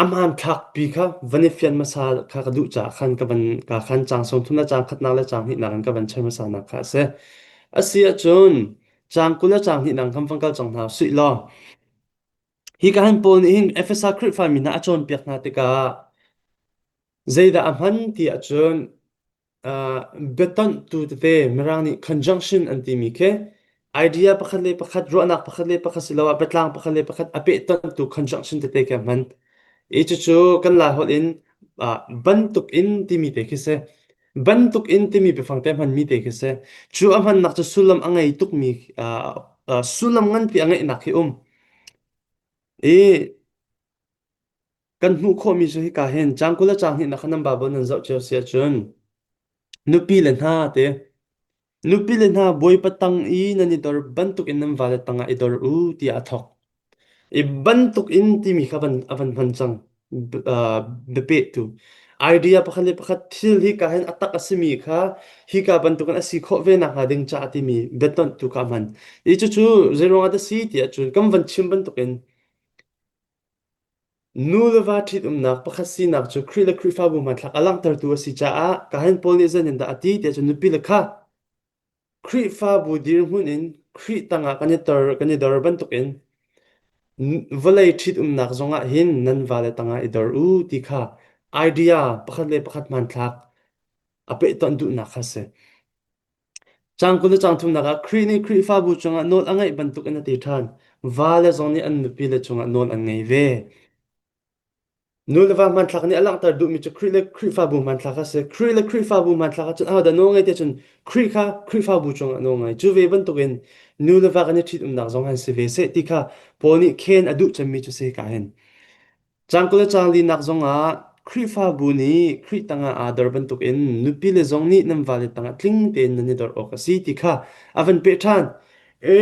a hmankhakpi kha van i fian hmasa kha ka duh caah khan ka van ka khan caang sawmthum le caang khatnak le caang hnihnak in ka van chim hmasanak kha a si. A si ahcun caang kul le caang hnihnak khan van kal cang hna sih law Hi kahan pawl nih hin Efesa Khrihfami hna a cawnpiak hna tikah zeidah a hman ti ahcun uh, biatonhtu tete Mirang nih conjunction an timi khi idea pakhat le pakhat ruahnak pakhat le pakhat siloah biatlang pakhat le pakhat a pehtonhtu conjunction tete khi a hman. Hi cucu kan Lai holh in uh, bantuk in timi te khi si. Bantuk in timi biafang te hmanmi te khi si. Cu a hmannak cu sullam a ngei tukmi uh, uh, sullam nganpi a ngeihnak hi um. I kan hmuh khawhmi cu hika hin cang kul le cang hnih na khan nan Bible nan zoh cio si ahcun nupi le hna te Nupile hna Bawipa tang i nan i dor bantukin nan vale tangah i dor u tiah a thawk. I bantukin timi kha van, a van hman cang b- uh, biapehtu. Idea pakhat le pakhat thil hika hin a tak a simi kha hika bantukin a si khawh ve nakhnga ding ca a timi biatonh tu ka hman. I cucu zeiruangah dah si tiah cun kan van chim bantukin Nu le va ṭhitumnak pakhat sinak cu Khrih le Khrihfabu hmanthlak a langhtertu a si caah Kain Paul nih zeitindah a ti ti ahcun nupile kha Khrihfabu dirhmun in Khrih tangah kan i tor kan i dor bantukin vawlei ṭhitumnak zongah hin nan vale tangah i dor u ti kha idea pakhat le pakhat hmanthlak a pehtonh duhnak kha a si. Cang kul le cang thumnak ah Khrih nih Khrihfabu cungah nawl a ngaih bantuk in a ti ṭhan. Vale zong nih an nupile cungah nawl an ngei ve. Nu le va hmanthlak nih a langhter duhmi cu Khrih le Khrihfabu hmanthlak a si. Khrih le Khrihfabu hmanthlak ahcun ahodah nawl ngai tiah cun Khrih kha Khrihfabu cungah nawl ngai. Cu ve bantukin nu le va kan i ṭhitumnak zong an si ve seh ti kha Paul nih khen a duh cemmi cu sika hin. Cang le cang linak zongah Khrihfabu nih Khrih tangah aa dor bantukin nupile zong nih nan vale tangah tling tein nan i dor awk a si ti kha a van peh ṭhan. E,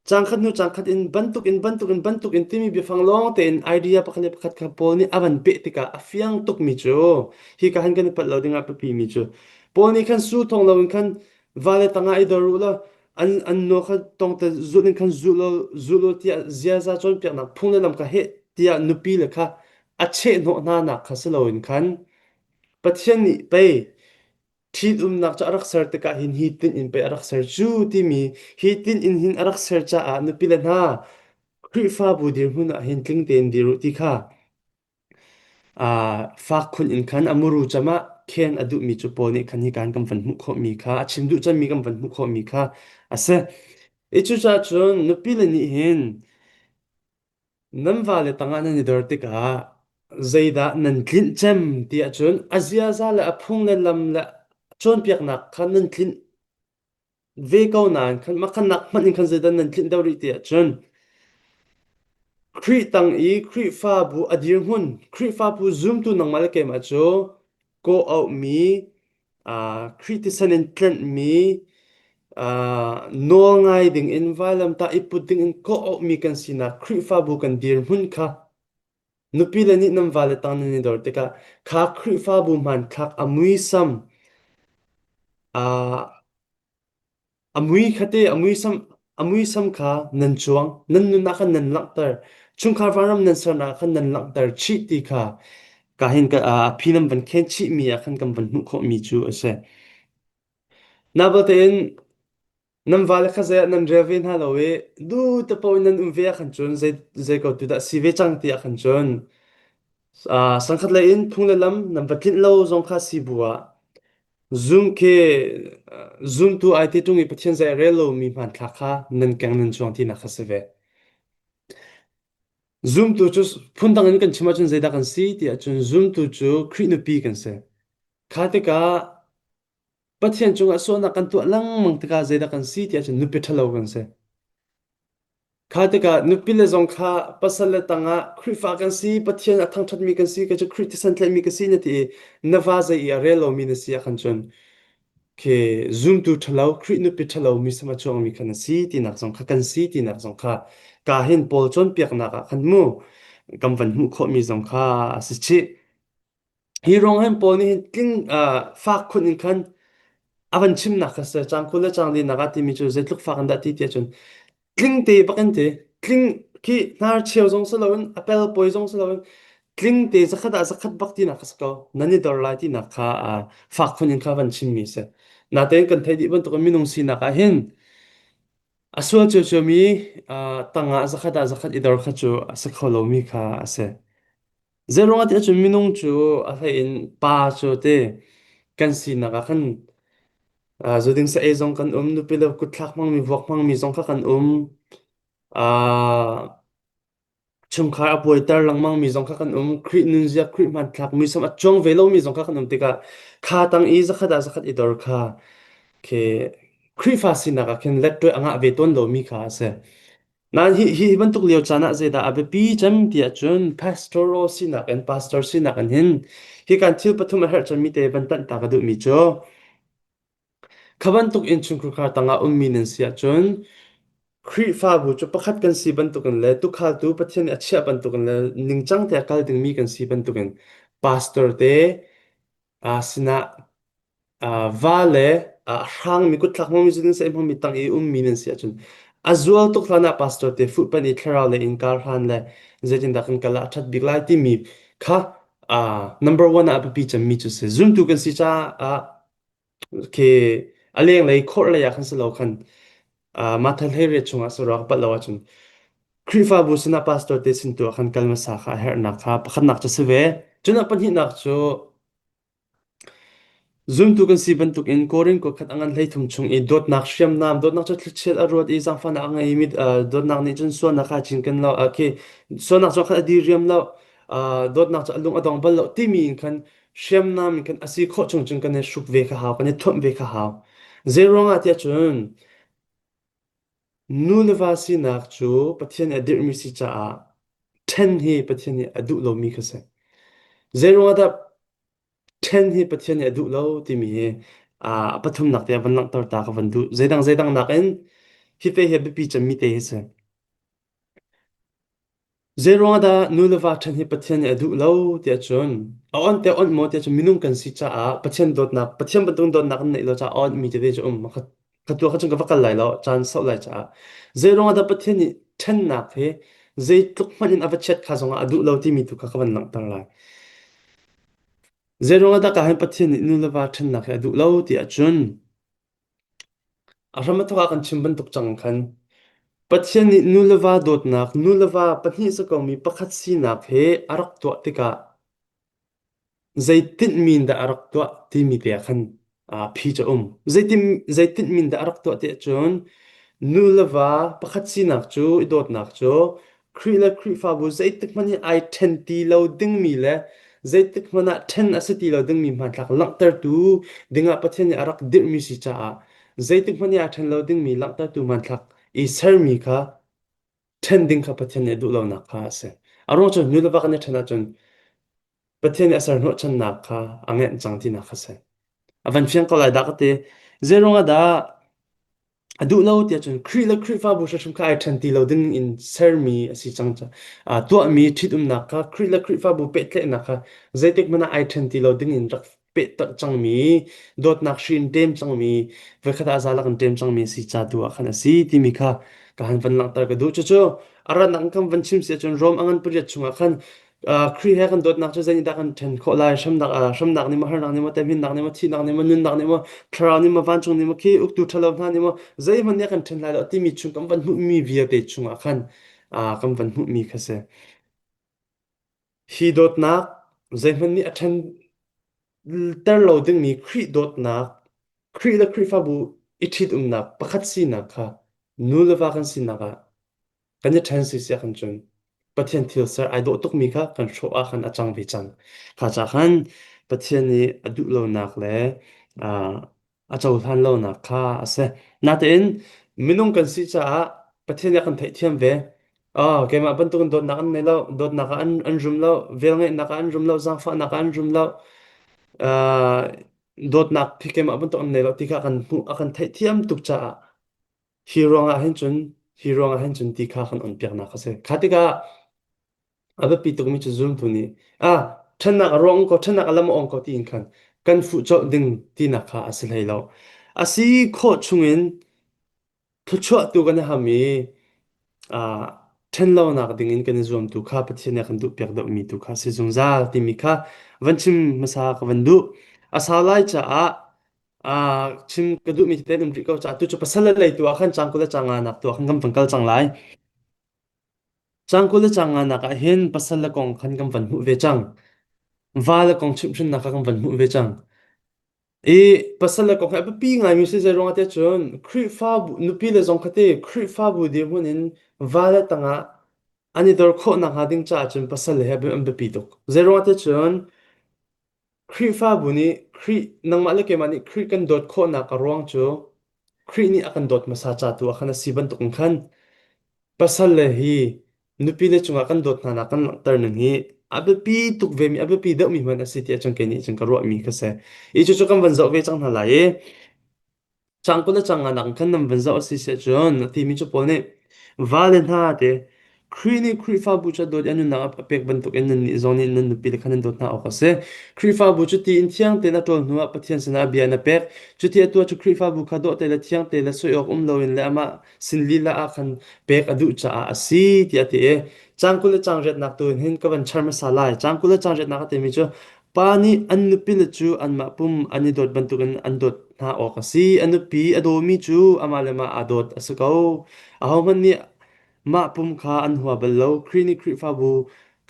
cangkhat hnu cangkhat in bantukin bantukin bantukin timi biafang lawng tein idea pakhat le pakhat kha Paul nih a van peh tikah a fiang tukmi cu hi ka han kan i palh lo dingah a biapimi cu Paul nih khan su thawng loin khan vale tangah i dor u law an an no kha tong te zulh in khan zulh law zulh law tiah ziaza cawnpiaknak phung le lam ka heh tiah nupi le kha a chehhnawh hna nak kha si loin khan Pathian nih pei ṭhitumnak cu a rak ser tikah hin hi tin in pei a rak ser cu timi hi tin in hin a rak ser caah nupi le hna Khrihfabu dirhmun ah hin tling tein dir u ti kha Faak khun in khan a muru cam ah khen a duhmi cu paw nih khan hikaan kan van hmuh khawhmi kha, a chim duh cemmi kan van hmuh khawhmi kha a si. Hi cucacun nupile nih hin nan vale tangah nan i dor tikah zeidah nan tlinh cem ti ahcun a ziaza le a phung le lam le cawnpiaknak kha nan tlinh. ve ko nain mah khanak hmanh in khan zeidah nan tlinh deuh rih ti ahcun Khrih tang i Khrihfabu a dirhmun, Khrihfabu zumtu nangmah le keimah cu kaw auhmi, ah, Khrih tisen in tlenhmi, ah, nawl ngai dingin vailamtah i put dingin kaw auhmi kan sinak Khrihfabu kan dirhmun kha Nupile nih nan vale tang nan i dor tikah kha Khrihfabu hmanthlak a muisam aa a mui khatte a muisam a muisam kha nan cuang nan nunah khan nan langhter chungkhar vanram nan sernak khan nan langhter chih ti kha ka hin ka ah phi nan van khen chih mi ah khan kan van hmuh khawh mi cu a si. Na tein Nan vale kha zei ah nan rel ve hna lo i duh te paoh in nan um ve ah khan cun zei, zei ko tu dah si ve cang ti ah khan cun uh, sangkhatlei in phung le lam nan va tlinh lo zong kha si bu ah zum khi uh, zumtu ai te ṭung i Pathian zei a rel lomi hmanthlak kha nan keng nan chuang ti nak kha si ve. Zumtu cu phundang in kan chim ahcun zeidah kan si ti ahcun zumtu cu Khrih nupi kan si. Kha tikah Pathian cungah sualnak kan tuah lengmang tikah zeidah kan si tiah cun nupi ṭhalo kan si. Kha tikah nupi le zong kha pasal le tangah Khrihfa kan si, Pathian a thangṭhatmi kan si, kei cu Khrih thisen ka si na ti i na va zei i a rel lomi na si ah khan cun Okay, zumtu ṭhalo, Khrih nupi ṭhalo, mi sam a chuangmi kha na si tinak zong kha kan si tinak zong kha kaa hin Paul cawnpiaknak ah khan mu kan van hmuh khawhmi zong kha a si chih. Hi ruang hin pawl nih tling ah fak khun in khan a van chimnak kha si. Caang kul le caang linak ah timi cu zeitluk fak in dah ti tiah cun tling te bak an ti. Tling khi hnar cheu zong si loin a pel poi zong si loin tling te zakhat ah zakhat bak tinak kha si ko nan i dor lai tinak kha ah fak khun in kha van chimmi si. Natein kan theih dih bantukin minung sinak ah hin a sual ciocciomi ah tang ah zakhat ah zakhat i dor kha cu a si kho lomi kha a si. Zeiruangah tiah cun minung cu a hleiin pa cu ti kan sinak ah khan uh, zu ding sa ei zong kan um, nupi le kutthlak hmangmi, vuak hmangmi zong kha kan um. Uh, chungkhar a buaiter lengmangmi zong kha kan um. Khrih nunzia, Khrih hmanthlak, muisam a cuang ve lomi zong kha kan um tikah kha tang i zakhat ah zakhat i dor kha khi Khrihfa sinak ah khin let ṭuai a ngah ve tawn lomi kha a si. Nan hi hi bantuk lio caan ah zeidah a biapi cem tiah cun pastoral sinak in pastor sinak in hin hi kan thil pathum a herh cemmi te van tanh ta ka duhmi cu kha bantuk in chungkhar tangah ummi nan si ahcun Khrihfabu cu pakhat kan si bantukin le tuukhaltu Pathian nih a chiah bantukin le ningcang te a kal dingmi kan si bantukin pastor te Aa sinah uh, va le uh, hrangmi kutthlak hmami cu nan sehmi hmami tang i ummi nan si ahcun a zual tuk hlanah pastor te fuhpan i thlarau le in kar hlan le zeitindah kan kal ah a ṭhat bik lai timi kha uh, number one ah a biapi cemmi cu si zumtu kan si caah okay a lenglei khawrhlei ah khan si lo khan Uh, Martha Hleire chungah saruak a pat lo ahcun Khrihfabu sinah pastor te sin tu ah khan kal hmasa kha a herhnak kha pakhatnak cu si ve. Cunak pahnihnak cu zumtu kan si bantuk in Korin kua khat a ngan hlei thum chung i dawtnak hriamnam, dawtnak cu thlichiat a ruat i zaangfahnak a ngeimi uh, dawtnak nih cun sualnak kha a cinken lo, uh, khi sualnak cu khat a diriam lo, uh, dawtnak cu a lung a dong bal lo timi in khan hriamnam kan asi khawh chung cun kan i hruk ve kha hau kan i thuamh ve kha hau zei ruangah tiah cun nuleva sinak cu pathian nih a dirhmi si caah ṭhen hi pathian nih a duh lomi kha si zei ruangah dah ṭhen hi pathian nih a duh lo timi hi a pathumnak te ah van langhter ta ka van duh zeidang zeidang nakin hi te hi a biapi cemmi te hi si Zeiruangahdah nu le va ṭhat hi Pathian nih a duh lo tiah cun a awnh te awnh maw tiah cun minung kan si caah Pathian dawtnak Pathian bantuk dawtnak kan neih lo caah a awnhmi tete cu a um. A khat khat tu ah khan cun ka va kal lai lo caan sauh lai caah zeiruangahdah Pathian nih ṭhennak hi zeitluk hmanh in a va chiat kha zongah a duh lo timi tu kha ka van langhter lai. Zeiruangahdah ka hin Pathian nih nu le va ṭhennak hi a duh lo tiah cun A hram a thawk ah kan chim bantuk cang khan Pathian nih nu le va dawtnak, nu le va pahnih sikomi pakhat sinak he a rak tuah tikah zei tinhmin dah a rak tuah timi te ah khan aa phi cu a um. Zeitin, zei tinhmin dah a rak tuah ti ahcun nu le va pakhat sinak cu i dawtnak cu Khrih le Khrihfabu zeitik hmanh i ai ṭhen ti lo dingmi le zeitik hmanh ah ṭhen a si ti lo dingmi hmanthlak langhtertu dingah Pathian nih a rak dirhmi si caah zeitik hmanh i ai ṭhen lo dingmi langhtertu hmanthlak i sermi kha ṭhen ding kha Pathian nih a duh lonak kha a si. A ruang cu nu le va kan i ṭhen ahcun Pathian nih a ser hnawhchannak kha a ngenh cang tinak kha a si. A van fiang ko lai dah ka ti. Zeiruang ah dah A duh lo tiah cun Khrih le Khrihfabu hrimhrim kha ai ṭhen ti lo ding in sermi a si cang. ca- aa, tuahmi ṭhitumnak kha Khrih le Khrihfabu pehtlaihnak kha zeitik hmanh ah ai ṭhen ti lo ding in rak pehtak cangmi, dawtnak hri in ṭem cangmi, voikhat ah zalak in ṭem cangmi a si ca tu ah khan a si timi kha ka han van langhter ka duh. Cucu a ratnak in kan van chim si ahcun Rom a ngan pariat chungah khan Khrih he kan dawtnak cu zeinihdah kan ṭhen khawh lai? Hremnak ah hremnak nih maw, harnak nih maw, temhinnak nih maw, thihnak nih maw, nunnak nih maw, thlarau nih maw, vancung nih maw, khi uktu ṭhalo hna nih maw, zeihmanh nih a kan ṭhen lai lo timi chung kan van hmuhmi vialte chungah khan ah kan van hmuhmi kha a si. Hi dawtnak zeihmanh nih a ṭhenter lo dingmi Khrih dawtnak, Khrih le Khrihfabu i ṭhitumnak pakhat sinak kha nu le va kan sinak ah kan i ṭhen sisia kan cun. Pathian thil ser ai dawh tukmi kha kan hrawh ah khan a cang ve cang. Kha ca khan Pathian nih a duh lonak le ah a cohlan lonak kha a si. Natein minung kan si caah Pathian nih a kan theihthiam ve. Oh, keimah bantukin dawtnak an ngei lo, dawtnak ah an an rum lo, velngeihnak ah an rum lo, zaangfahnak ah an rum lo. Ah, dawtnak hi keimah bantuk an ngei lo ti kha a kan hmuh a kan theihthiam tuk caah Hi ruang ah hin cun hi ruang ah hin cun ti kha kan on piaknak a si. Kha tikah a biapi tukmi cu zultu nih a ṭhennak a ruang ko ṭhennak a lam a ong ko tiin khan kan fuh colh ding tinak kha a si hlei lo. A si khawh chung in thluachuahtu kan i ham i a ṭhenlonak ding in kan i zuam tu kha Pathian nih a kan duhpiak deuhmi tu kha a si zungzal timi kha van chim hmasa ka van duh. A sau lai caah Ah, chim ka duhmi hi tein um rih ko caah tu cu pasal le lei tu ah khan cangkul le canga nak tu ah khan kan van kal cang lai. Cangkul le canga nak ah hin pasal le kong khan kan van hmuh ve cang. Va le kong chimhhrinnak kha kan van hmuh ve cang. I pasal le kong he a biapi ngaimi si zei ruangah te cun Khrihfabu nupi le zong khati Khrihfabu dirhmun in va le tangah an i dor khawh nakhnga ding caah cun pasal le he an biapi tuk. Zei ruangah te cun Khrihfabu nih Khrih nangmah le keimah nih Khrih kan dawt khawhnak a ruang cu Khrih nih a kan dawt hmasa ca tu ah khan a si bantuk in khan pasal le hi nupile cungah kan dawt hna nak kan langhter ning hi a biapi tuk vemi a biapi deuhmi hmanh a si tiah cun kei nih cun ka ruahmi kha a si. Hi cucu kan van zoh ve cang hna lai i Sang kul le chang ah nakin khan nan van zoh a si siah cun a thimi cu pawl nih vale hna te Khrih nih Khrihfabu cu a dawt i a nunnak a pek bantukin nannih zong nih nan nupile kha nan dawt hna awk a si. Khrihfabu cu ti in thiang tein a ṭawl hnuah Pathian sinah bia in a pek. Cuti atu ah cu Khrihfabu kha dawhte le thiang tein le soi awk um loin le amah sin lila ah khan pek a duh caah a si tiah a ti i cang kul le chang riatnak tu in hin ka van char hmasa lai. Cang kul le chang riatnak a timi cu Pa nih an nupile cu anmah pum an i dawt bantukin an dawt hna awk a si. A nupi a dawmi cu amah le mah aa dawt a si ko. Ahohmanh nih mah pum kha an hua bal lo. Khrih nih Khrihfabu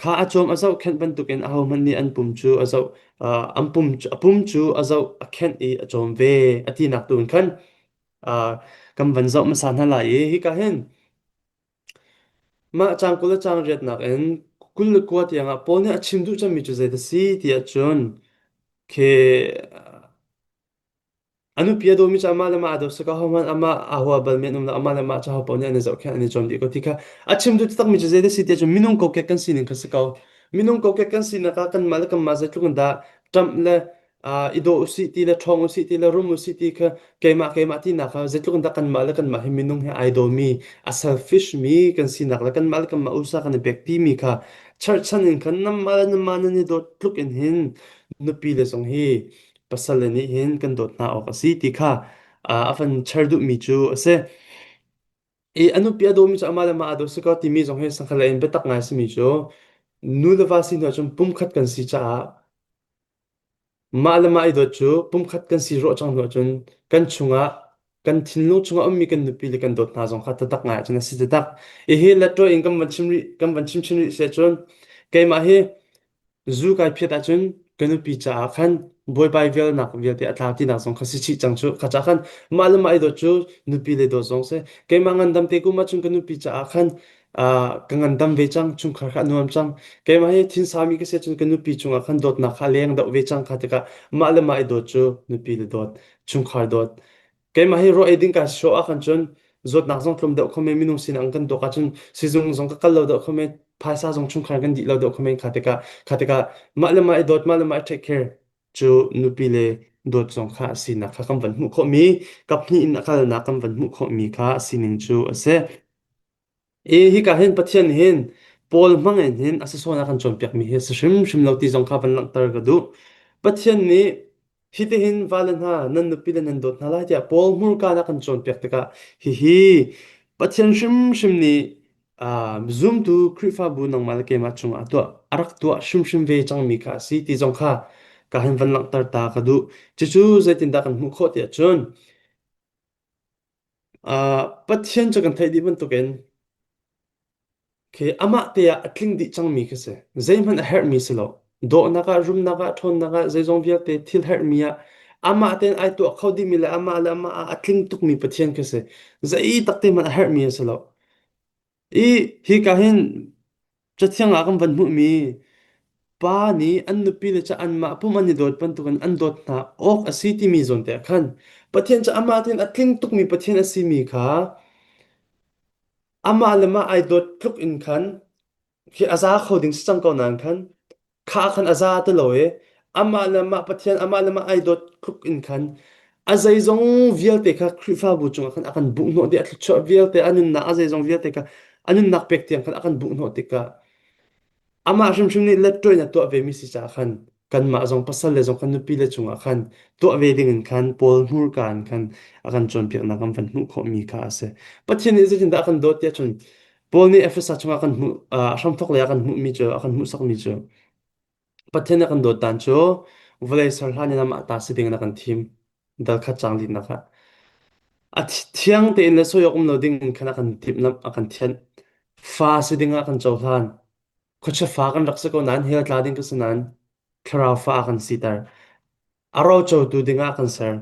kha a cawm a zohkhenh bantukin ahohmanh nih an pum cu a zoh ah an pum cu a pum cu a zoh, a khenh i a cawm ve, a tinak tu in khan ah kan van zoh hmasa hna lai i hika hin Mah caang kul le caang riat nakin kul le kua tiangah Paul nih a chim duh cangmi cu zeidah a si ti ahcun khi a nupi a dawmi cu amah le mah aa dawt sika hohmanh amah aa hua balmi an um lo amah le mah cu ahopaoh nih an i zohkhenh an i zuam dih ko ti kha a chim duh takmi cu zeidah a si ti ahcun minung kokek kan sining kha si ko minung kokek kan sinak ah kanmah le kanmah zeitluk in dah ṭamh le ah i daw usih ti le ṭhawng usih ti le rum usih ti kha keimah keimah tinak kha zeitluk in dah kanmah le kanmah hi minung he ai domi a selfish mi kan sinak le kanmah le kanmah usa kan i pekpi mi kha cherhchan in khan namah le namah nan i dawt tluk in hin nupi le zong hi pasal le nih hin kan dawt hna awk a si ti kha ah, a kan cher duhmi cu a si. I a nupi a dawmi cu amah le amah aa daw si kaw timi zong hi sangkhalei in biatak ngai simi cu nu le va si hnu ahcun pumkhat kan si caah Mah le mah i dawt cu pumkhat kan si ruah cang hnu ahcun kan chungah kan thinlung chungah a ummi kan nupi le kan dawt hna zong kha tadak ngai ahcun a si tadak. Hihi letṭaw in kan van chim rih kan van chimchin rih siah cun keimah hi zu kai phiat ahcun ka nupi caah khan buaibai vialnak vialte a tlau tinak zong kha si chih cang cu. Kha cah khan mah le mah i dawt cu nupi le dawt zong si. Keimah ngandam te kum ahcun ka nupi caah khan Ah, ka ngandam ve cang, chungkhar kha a nuam cang. Keimah hi thil sami ka si ahcun ka nupi cungah khan dawtnak kha a leng deuh ve cang kha tikah mah le mah i dawt cu nupi le dawt, chungkhar dawt. Keimah hi ruah eiding ka show ahkhan cun zawtnak zong tlawm deuh khom e, minung sinah an kan dawt ahcun sizung zong ka kal lo deuh khom e, phaisa zong chungkhar kan dih lo deuh khom e, kha tikah kha tikah mah le mah i dawt, mah le mah i take care cu nupi le dawt zong kha a sinak kha kan van hmuh khawhmi, kaphnih in a kalnak kan van hmuh khawhmi kha a sining cu a si. E hika hin Pathian hin Paul hmang in hin a si sual a kan cawnpiak mi hi a si hrimhrim lo ti zong kha van langhter ka duh. Pathian nih hi ti hin vale hna nan nupi le nan dawt hna lai tiah Paul hmurkaan a kan cawnpiak tikah hihi Pathian hrimhrim nih ah, zumtu Khrihfabu nangmah le keimah cungah a tuah a rak tuah hrimhrim ve cang mi kha a si ti zong kha ka hin van langhter ta ka duh. Cucu zeitindah kan hmuh khawh ti ahcun Ah, Pathian cu kan theih dih bantukin khi amah te ah a tling dih cangmi khi si. Zeihmanh a herhmi si lo. Dawhnak ah, rumnak ah, ṭhawnnak ah, zeizong vialte thil herhmi ah amah tein ai tuah kho dihmi le amah le amah ah a tling tukmi Pathian khi si. Zei takte hmanh a herhmi a si lo. I hika hin cathiang ah kan van hmuhmi pa nih an nupi le cu anmah pum an i dawt bantukin an dawt hna awk a si timi zawn te ah khan Pathian cu amah thiin a tling tukmi Pathian a simi kha amah le mah ai dawt tluk in khan khi a za kho ding si cang ko nain khan Kha ah khan a za ti lo i amah le mah Pathian amah le mah ai dawt tluk in khan a zeizong vialte kha Khrihfabu cungah khan a kan buhhnawh dih, a thluachuah vialte, a nunnak a zeizong vialte kha a nunnak pek tiang khan a kan buhhnawh tikah amah hrimhrim nih letṭoin a tuah vemi si caah khan kanmah zong pasal le zong khan nupi le cungah khan tuah ve dingin khan Paul hmurka in khan a kan cawnpiaknak an van hmuh khawhmi kha a si. Pathian nih zeitindah a kan dawt tiah cun Paul nih Efesa chungah kan hmuh ah hramthawk lei ah kan hmuhmi cu a kan hmuhsakmi cu Pathian nih a kan dawtdan cu vawlei ser hlan in amah ta si dingin a kan thim dalkhat cang dihnak ah a thiang tein le soi awk um lo ding in khan a kan timhlamh a kan thianh fa si dingah a kan cohlan khuachia fa kan rak si ko nain hell tla ding ka si nain thlarau fa kan siter a rocotu dingah kan ser.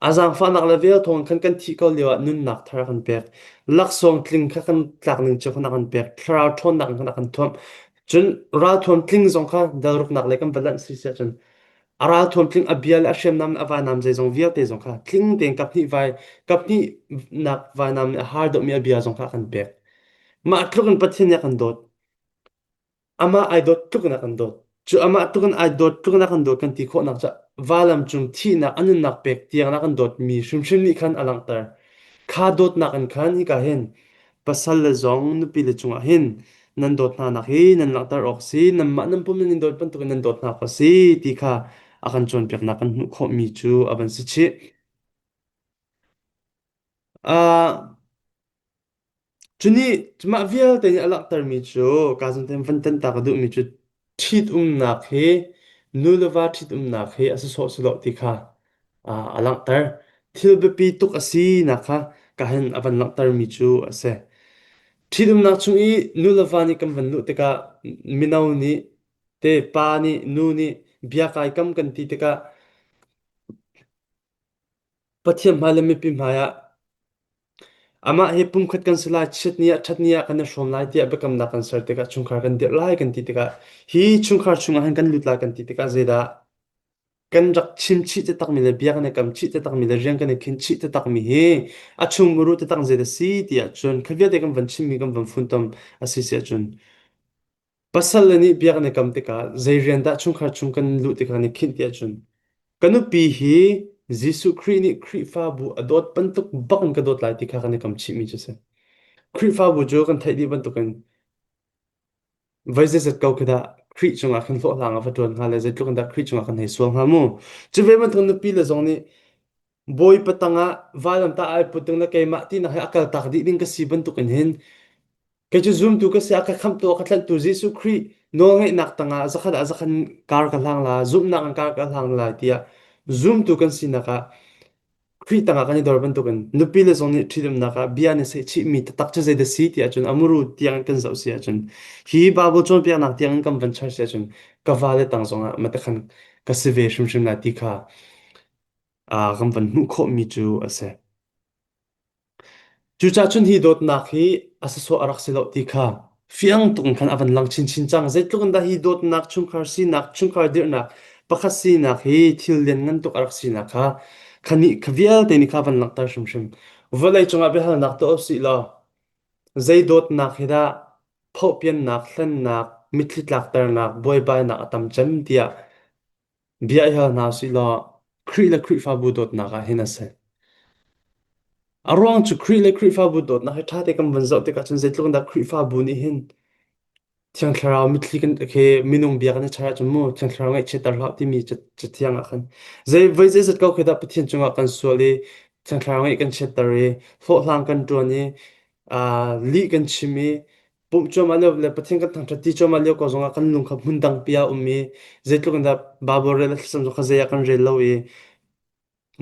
A zaangfahnak le vel thawng khan kan thih ko lioah nunnak thar a kan pek. Laksawng tling kha kan tlak ning cu khon a kan pek. Thlarau ṭhawnnak in khan a kan thuamh. Cun ralthuam tling zong kha dalruknak le kan va lanh si siah cun a ralthuam tling a bia le a hriamnam le a vainam zeizong vialte zong kha tling tein kap hnih vai kap hnihnak vainam nih a har deuhmi a bia zong kha a kan pek. Mah tluk in Pathian nih a kan dawt. amah ai dawt tluknak an dawt. Cu amah tluk in ai dawt tluknak an dawt kan ti khawhnak cu valam cung thihnak a nunnak pek tiangnak an dawtmi hrimhrim nih khan a langhter. Kha dawtnak in khan hika hin pasal le zong nupi le cungah hin nan dawt hnanak hi nan langhter awk si, nanmah nan pum in in dawt bantukin nan dawt hna kha si ti kha a kan cawnpiaknak kan hmuh khawhmi cu a van si chih. Ah Cunih mah vialte nih a langhtermi cu Gaziantep van tanhtak a duhmi cu ṭhitumnak hi nu le va ṭhitumnak hi a si sawh si loh ti kha a, a langhter. Thil biapi tuk a sinak kha kahin a van langhtermi cu a si. Ṭhitumnak chung i nu le va nih kan van luh tikah mino nih te pa nih nu nih bia kai kam kan ti tikah Pathian hmai le mipi hmai ah amah hi pumkhat kan si lai, chiat ni ah, ṭhat ni ah kan i hrawm lai tiah biakamnak kan ser tikah chungkhar kan dirh lai kan ti tikah hi chungkhar chungah hin kan lut lai kan ti tikah zeidah kan rak chimchih takmi le bia kan i kamchih takmi le rian kan i khinchih takmi hi a chung muru taktak zeidah si ti ahcun kha vialte kan van chimmi kan van funtom a si si ahcun Pasal le nih bia kan i kam tikah zei rian dah chungkhar chung kan luh ti kha kan i khinh ti ahcun ka nupi hi Jesuh Khrih nih Khrihfabu a dawt bantuk bak in ka dawt lai ti kha kan i kam chihmi cu a si. Khrihfabu cu kan theih dih bantukin voi zeizat ko khi dah Khrih cungah khan hlawhhlang ah va ṭuan hnga le zeitluk in dah Khrih cungah khan hei sual hnga mu. Cu ve bantuk nupi le zong nih Bawipa tangah vanlamtah ai put ding le keimah tinak hi a kaltak dih ding ka si bantukin hin kei cu zumtu ka si a ka khamtu a ka tlanhtu Jesuh Khrih nawlngeihnak tangah zakhat ah zakhat in kar ka hlang la zumhnak in kar ka hlang lai tiah zumtu kan sinak ah Khrih tangah kan i dor bantukin nupi le zong nih ṭhitumnak ah bia nih sehchihmi taktak cu zeidah si ti ahcun a muru tiangin kan zoh si ahcun hi Bible cawnpiaknak tiangin kan van char si ahcun ka vale tang zongah mate khan ka si ve hrimhrim lai ti kha ah kan van hmuh khawhmi cu a si. Cucahcun hi dawtnak hi a sasawh a rak si loh ti kha fiang tuk in khan a van lang chinchin cang. Zeitluk in dah hi dawtnak, chungkhar sinak, chungkhar dirhnak, pakhat sinak hi thil lianngan tuk a rak sinak kha kha nih kha vialte nih kha van langhter hrimhrim. Vawlei cungah biahalnak tuah u sih law, zei dawtnak hi dah phohpiannak, hlennak, mitthli tlakternak, buaibainak a tam cem tiah Bia i hal hna sih law Khrih le Khrihfabu dawtnak ah hin a si. A ruang cu Khrih le Khrihfabu dawtnak hi ṭha te kan vun zoh tikah cun zeitluk in dah Khrihfabu nih hin Thiang Thlarau mitthli kan khi minung bia kan i ṭhal ahcun mu Thiang Thlarau ngaihchiatter hlah timi ca cathiang ah khan zei voi zeizat ko khi dah Pathian cungah kan sual i Thiang Thlarau ngaih kan chiatter i hlawhhlang kan ṭuan i aa lih kan chim i Pumh cuam ah lio le Pathian kan thangṭhat ti cuam ah lio ko zong ah kan lung kha hmun dangpi ah a um i zeitluk in dah Bible rel a thlasam cu kha zei ah kan rel lo i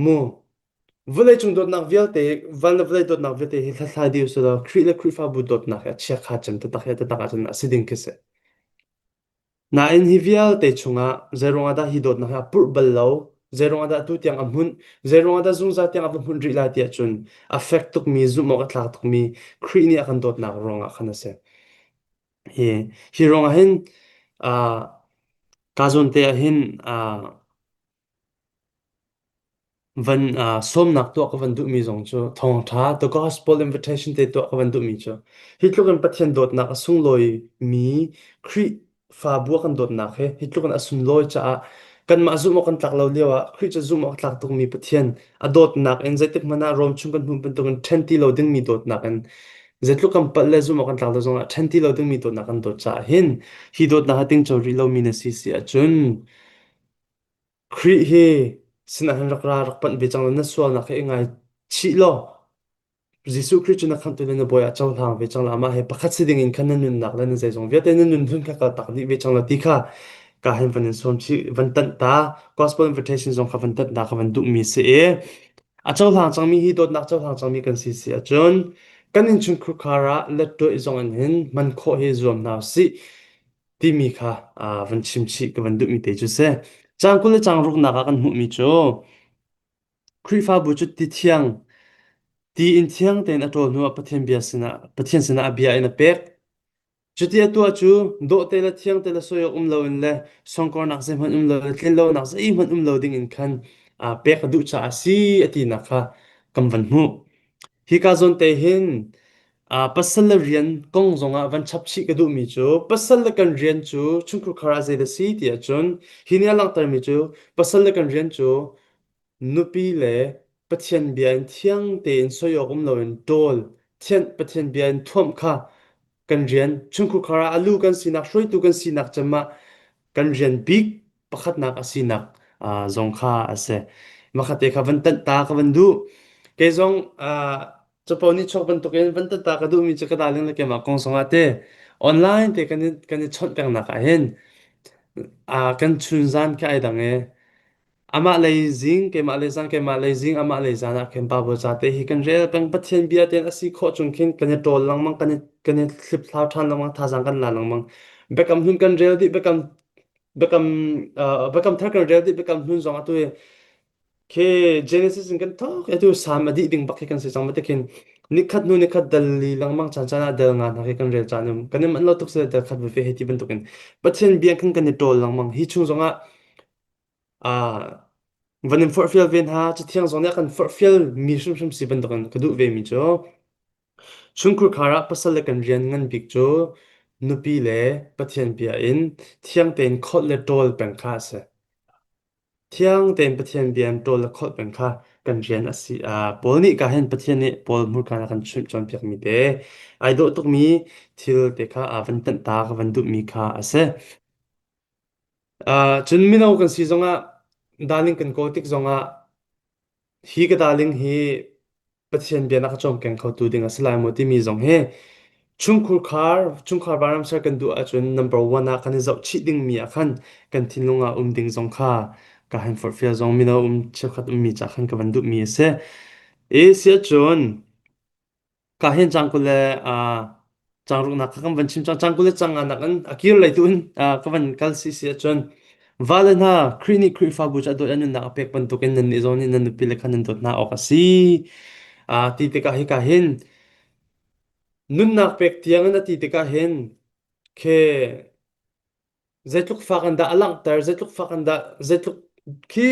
mu vawleicung dawtnak vialte van le vawlei dawtnak vialte hi hlathlai ding usih law Khrih le Khrihfabu dawtnak hi a chiakha cem taktak he taktak ahcun a si ding khi a si. Nain hi vialte chungah zeiruangah dah hi dawtnak hi a purh bal lo, zeiruangah dah atu tiang a hmunh, zeiruangah dah zungzal tiang a va hmunh rih lai ti ahcun a fek tukmi, zumhawk a tla tukmi Khrih nih a kan dawtnak ruangah khan a si. Hi, hi ruangah hin aa kaa zawn te ah hin aa Van uh, sawmnak tuah ka van duhmi zong cu thawngtha the gospel invitation te tuah ka van duhmi cu hi tluk in Pathian dawtnak a sunglawi mi Khrihfabu kan dawtnak he hi tluk in a sunglawi caah kanmah zumh awk kan tlak lo lio ah Khrih cu zumh awk tlak tukmi Pathian a dawtnak in zeitik hmanh ah Rom chung kan hmuh bantuk in ṭhen ti lo dingmi dawtnak in zeitluk kan palh le zumh awk kan tlak lo zong ah ṭhen ti lo dingmi dawtnak kan dawt caah hin hi dawtnak ha ting co rih lomi na si si ahcun Khrih hi sinain rak ra rak panh ve cang law na sualnak hi i ngaichih law Jesuh Khrih cu na khamhtu le na bawi ah cohlang ve cang la amah he pakhat si dingin khan na nunnak le na zeizong vialte na nunhlun kha ka tak dih ve cang la ti kha ka hin van in sawm chih van tanh ta gospel invitation zong kha van tanh ta kha van duhmi si i a cohlang cangmi hi dawtnak cohlang cangmi kan si si ahcun kan innchungkhar ah let tuah i zong in hin man khawh hi zuam hna u sih timi kha ah, van chim chih ka van duhmi te cu si. Caan kul le caan ruknak ah kan hmuhmi cu Khrihfabu cu ti thiang, ti in thiang tein a ṭawl hnuah Pathian bia sinah Pathian sinah a bia in a pek. Cuti a tuah cu dawhte le thiangte le soi awk um loin le songkornak zeihmanh um lo le tlin lonak zeihmanh um lo dingin khan aa pek a duh caah a si a tinak kha kan van hmuh. Hika zawn te hin ah pasal le rian kong zongah van chap chih ka duhmi cu pasal le kan rian cu chungkhar ah zeidah si ti ahcun hi nih a langhtermi cu pasal le kan rian cu nupi le Pathian bia in thiang tein soi awk um loin ṭawl thianh Pathian bia in thuamh kha kan rian chungkhar ah a lu kan sinak hruaitu kan sinak cem ah kan rian bik pakhatnak a sinak ah, zong kha a si. Makhatte kha van tanh ta ka van duh. Kei zong ah, capo nichuak bantukin van tanh ta ka duhmi cu ka darling le keimah kong zongah te online te kan i, kan i chawnh pengnak ahhin ah, kan chun zan khi ai dang e. Amah lei zing, keimah lei zang, keimah lei zing, amah lei zan ah khin pa bu ca te hi kan rel peng Pathian bia tein a si khawh chung khin kan i ṭawl lengmang, kan i, kan i hlip thlau ṭhan lengmang, thazang kan la lengmang. Biakam hun kan rel dih, biakam Biakam uh, biakam thar kan rel di biakam hnun zong atu khi Genesis in kan tok atu sam adi ding bak khi kan si chang mate khin nikhat nu nikhat dal li langmang chan chan a dal nga na khi kan rel chan um kan man lo tuk se dal khat ve he ti bantukin pathin biang kan kan ni tol langmang hi chung zong a a van in forhfial ve hna cuthiang zong nih a kan forhfial mi hrimhrim si bantukin ka duh ve mi cu Chungkhur khar ah pasal le kan rian ngan bik cu nupi le Pathian bia in thiang tein khawlh le ṭawl peng kha a si. Thiang tein Pathian bia in ṭawl le khawlh peng kha kan rian a si. Ah, Paul nih ka hin Pathian nih Paul hmurka a kan chimh cawnpiakmi te, ai dawh tukmi thil te kha aa van tanhtak, a van duhmi kha a si. Ah, cun mino kan si zongah, daling kan kawl tik zongah, hi ka daling hi Pathian bia na ka cawm keng khotu ding a si lai maw timi zong hi chungkhur khar chungkhar vanramsal kan duh ahcun number one ah kan i zohchih dingmi ah khan kan thinlung ah um ding zong kha ka han forhfial zong mino um cheukhat ummi ca khan ka van duhmi a si. Asia cun ka hin cang kule Cangruhnak kha kan van chim cang. Cangkul le cangan nakin a kir lei tu in ka van kal si si ahcun vale hna Khrih nih Khrihfabu cu a dawt an nunnak a pek bantukin nannih zong nih nan nupile kha nan dawt hna awk a si. A ti tikah hika hin nunnak pek tiangin a ti tikah hin ke Zeitluk fak in dah a langhter, zeitluk fak in dah, zeitluk khi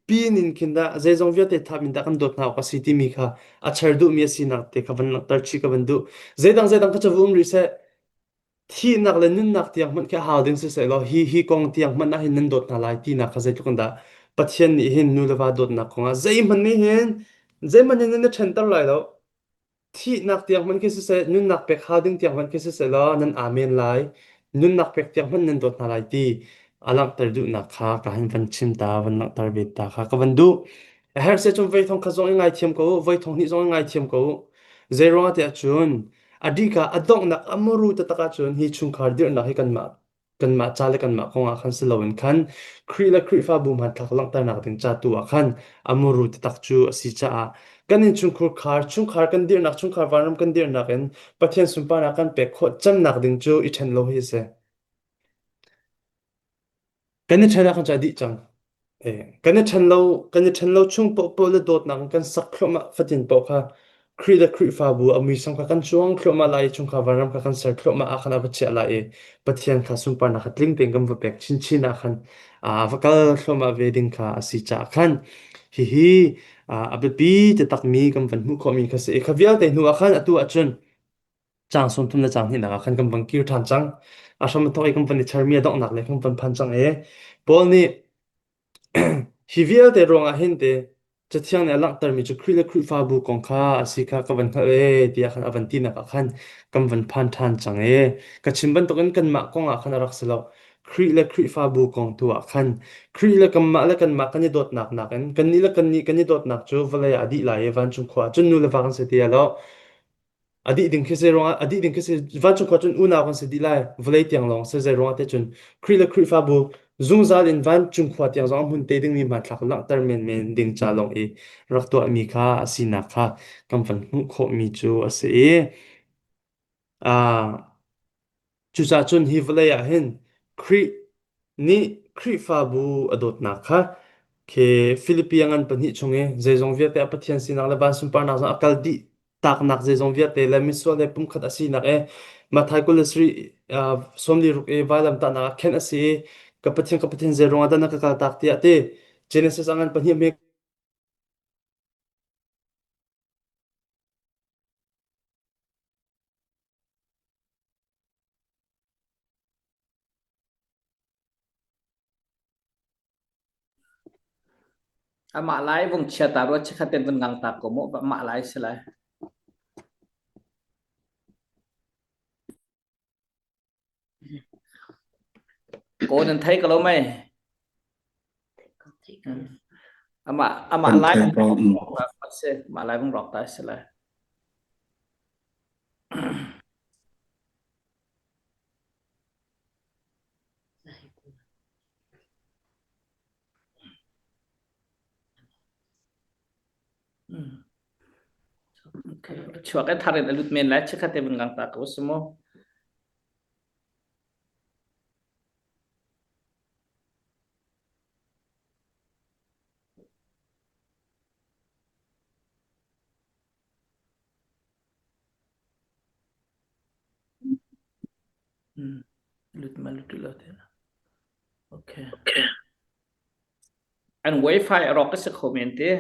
pin in khin dah zeizong vialte thap in dah kan dawt hna awk a si timi kha a char duhmi a sinak te kha van langhter chih ka van duh. Zeidang zeidang kha cu va um rih seh, thihnak le nunnak tiang hmanh khi a hau ding siseh law hi hi kong tiang hmanh ah hin nan dawt hna lai tinak kha zeitluk in dah Pathian nih hin nu le va dawtnak kongah zeihmanh nih hin zeihmanh hin nan i ṭhenter lai lo. Thihnak tiang hmanh khi siseh, nunnak pek hal ding tiang hmanh khi siseh law nan amen lai. Nunnak pek tiang hmanh nan dawt hna lai ti a langhter duhnak kha ka han van chim ta, van langhter ve ta kha ka van duh. A her se cun voi thong khat zong i ngaithiam ko u, voi thong hnih zong i ngaithiam ko u. Zei ruangah tiah cun, a dika a donghnak a muru taktak ahcun hi chungkhar dirhnak hi kanmah kanmah ca le kanmah kong ah khan si loin khan Khrih le Khrihfabu hmanthlak langhternak ding ca tu ah khan a muru taktak cu a si caah kan innchungkhar khar chungkhar kan dirnak chungkhar vanram kan dirnak in Pathian sunparnak kan pek khawh cannak ding cu i ṭhen lo hi a si. Kan i ṭhen ah khan cu a dih cang. Kan i ṭhen lo kan i ṭhen lo chung paohpaoh le dawtnak in kan sak thluahmah fatin paoh kha Khrih le Khrihfabu a muisam kha kan cuang thluahmah lai i chungkhar vanram kha kan ser thluahmah ah khan a va chiah lai i Pathian kha sunparnak kha tling tein kan va pek chinchin ah khan a va kal thluahmah ve ding kha a si caah khan hihi a biapi takmi kan van hmuh khawhmi kha a si i kha vialte hnuah khan atu ah cun Caang sawmthum le caang hnihnak ah khan kan van kir ṭhan cang. A hram a thawk i kan van i chermi a donghnak le kan van phan cang i Paul nih hi vialte ruangah hin ti Cathiang nih a langhtermi cu Khrih le Khrihfabu kong kha a si kha ka van hngalh ee tiah khan a van tinak ah khan kan van phan ṭhan cang i ka chim bantukin kanmah kongah khan a rak si lo. Khrih le Khrihfabu kong tu ah khan Khrih le kanmah le kanmah kan i dawtnak nakin kannih le kannih kan i dawtnak cu vawlei ah a dih lai i vancung khua ah cun nu le va kan si ti a lo. A dih ding khi zei ruangah a dih ding khi si vancung khua cun unau kan si dih lai vawlei tiang lawng si zei ruangah te cun Khrih le Khrihfabu zungzal in vancung khua tiang zong a hmun te dingmi hmanthlak langhter menmen ding ca lawng i rak tuahmi kha a sinak kha kan van hmuh khawhmi cu a si i ah Cucacun hi vawlei ah hin Khrih nih Khrihfabu a dawtnak kha khi Filipi a ngan pahnih chung i zeizong vialte a Pathian sinak le van sunparnak zong a kal dih taknak zeizong vialte le misual le pumkhat a sinak i Mathai kul le sarih ah sawmli ruk i vailamtahnak ah khenh a si i ka Pathian ka Pathian zei ruangah dah na ka kaltak tiah a ti. Genesis a ngan pahnih a Amah lai vung chia ta rua chekhat ten vun ngang ta ko mu amah lai si lai. Kaw nan thei ko lo mei? Amah amah lai vong rawk ta si. Amah lai vong rawk ta si le. chuak e thar in a lut men lai chekhat te vang ta ko sumo lut ma lut lo te na okay An wifi a rawk a si kho men ti.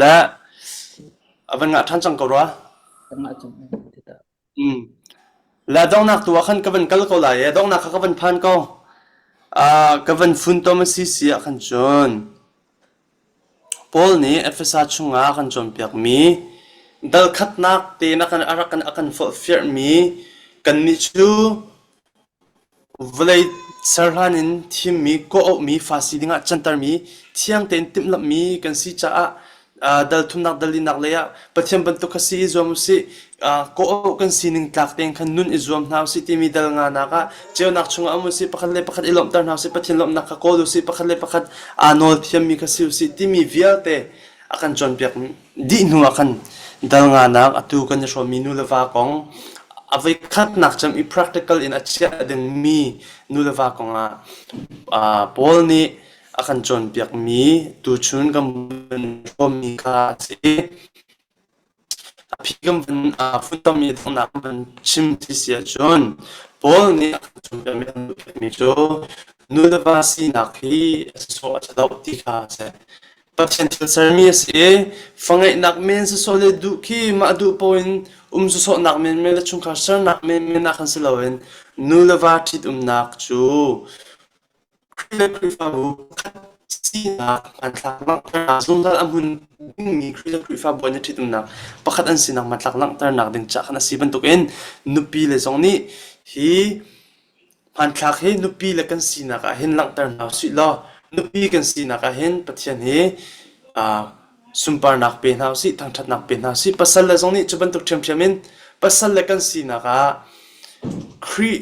Le a van ngah ṭhan cang ko rua. Kan ngah cang men ti ta. Mm. Le donghnak tu ah khan ka van kal ko lai i donghnak kha ka van phan ko. Ah, ka van funtom a si si ah khan cun Paul nih Efesa chungah a kan cawnpiakmi dalkhatnak tein a kan forhfialhmi kannih cu vawlei ser hlan in thimmi, kawh-auhmi, Farasi dingah cantermi, thiang tein timhlamhmi kan si caah dal thumnak, dal linak leiah Pathian bantuk kha si i zuam u sih. Ah, kawh kan sining tlak tein khan nun i zuam hna usih timi dal nganak ah ceunak chungah um usih pakhat le pakhat i lawmhter hna usih Pathian lawmhnak kha kawl usih pakhat le pakhat aa nawl thiammi kha si usih timi vialte a kan cawnpiak dih hnu ah khan dal nganak atu kan i hrawmmi nu le va kong a voi khatnak cem i practical in a chiah dingmi nu le va kong ah ah Paul nih a kan cawnpiakmi tuchun kan hrawmmi kha a si. A phi kan van aa funtermi donghnak kan van chim ti si ahcun Paul nih a kan cawnpiakmi kan duhphenhmi cu nu le va sinak hi a si sawh a ṭhadoh ti kha a si. Pathian thil sermi a si i fangeihnak men sawsawh le duh khi mah duh paoh in um sawsawhnak menmen le chungkhar sernak menmen ah khan si loin nu le va ṭhitumnak cu An le Khrihfabu pakhat sinak hmanthlak langhternak zungzal a hmun dingmi Khrihfa Khrihfabu an i ṭhitumnak pakhat an sinak hmanthlak langhternak ding ca khan a si bantukin nupile zong nih hi hmanthlak hi nupile kan sinak ah hin langhter hna usih law nupi kan sinak ah hin Pathian hi aa sunparnak pe hna usih thangṭhatnak pe hna usih pasal le zong nih cu bantuk ṭhiamṭhiam in pasal le kan sinak ah Khrih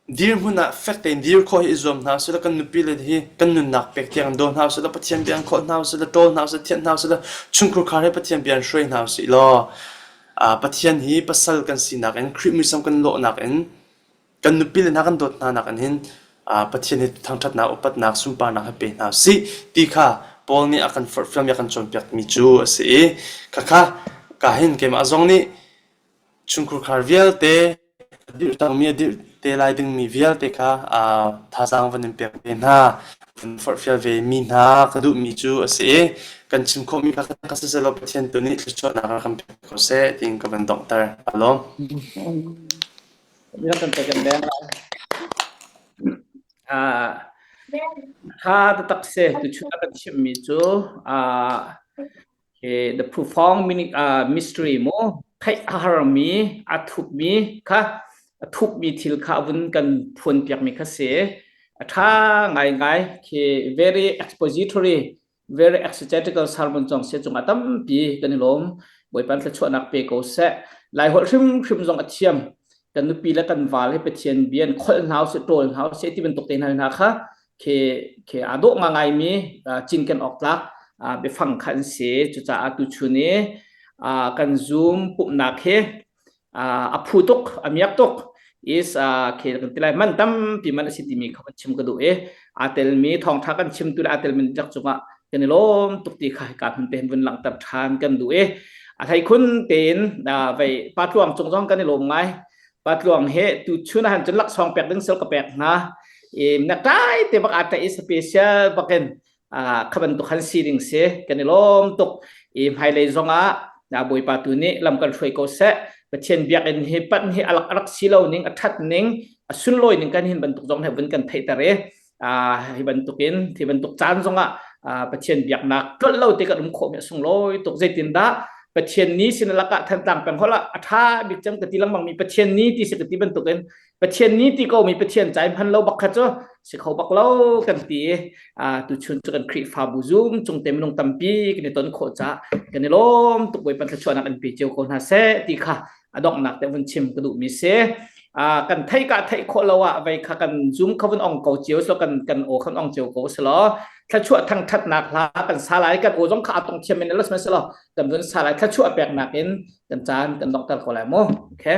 Dirhmun ah fek tein dir khawh hi i zuam hna usih law kan nupile hi kan nunnak pek tiang in daw hna usih law Pathian bia an khawh hna usih law ṭawl hna usih law thianh hna usih law chungkhar khar he Pathian bia an hruai hna usih law Pathian hi pasal kan sinak in Khrih muisam kan lawhnak in kan nupile hna kan dawt hna nakin hin Pathian hi thangṭhatnak upatnak sunparnak he pe hna usih ti kha Paul nih a kan forhfial mi a kan cawnpiakmi cu a si i khakha ka hin keimah zong nih Chungkhurkhar vialte ka dirh cangmi a dirh te lai dingmi vialte kha thazaang van in pek ve hna. Van forhfial vemi hna ka duhmi cu a si i kan chim khawhmi kha ka si selaw Pathian tu nih thluachuahnak ah kan pek ko seh ti in ka van donghter. Aa lawm. Mira kan pek in leng lai. Ah, kha tatak se tuchun a kan chimhmi cu ah Okay, the profound uh, mystery mu theih a harmi a thupmi kha a thupmi thil kha vun kan phuan piakmi kha si a tha ngai ngai khi very expository very exegetical sermon chong se chung atampi kan i lom boipan thla chuanak pe ko se lai hol hrim hrim zong athiam kan nupi la kan val he pathian bian khol hnau se tol hnau se ti bantuk te hna hna kha khi khi aa dawh ngai mi cinken awk tlak biafang kha an si cucaah tuchun i kan zoom pumhnak hi a phu tuk a miak tuk is khi kan ti lai man tampi man a si timi kha kan chim ka duh i aa telmi thawngtha kan chimtu le aa telmi dek cungah kan i lawm tuk ti kha hika hmun pe vun langhter than kan duh i a thei khun tein vai pa tluang cung zong kan i lawm ngai patluang he tu chun han cun laksawng pek ding sil ka pek hna i na kai te bak ata i special bakin khaban tu khan si ding se kan i lom tuk i hmailei zongah na bawipa tu nih lam kan hruai ko se pathian biak in hi pan hi alak arak si lo ning athat ning asuloi ning kan hin bantuk zong he vun kan theitare Ah, hi bantukin hi bantuk caan zongah ah, Pathian biaknak tlolh lo te kan um khawhmi a sunglawi tuk zeitindah Pathian ni sin lakah thantlang peng holah a tha bik cang ka ti lengmang mi Pathian ni ti si ka ti bantukin Pathian ni ti ko mi Pathian cai hman lo bak kha cu si kho bak lo kan ti ah, tu chun cu kan Khrihfabu Zoom chung te minung tampi kan i ton khawh ca kan i lawm tuk boi pan thluachuahnak an pe cio ko hna se ti kha a donghnak te vun chim ka duhmi si uh, kan thei ka thei kho lo ah vei kha kan zoom kha vun ong ko cio so kan kan o kan ong cio ko selo thlachuah thang that nak hla kan sa lai kan o jong kha atong thiam in los meselo kan vun sa lai thlachuah pek nak in kan chan kan dong tar ko lai mo okay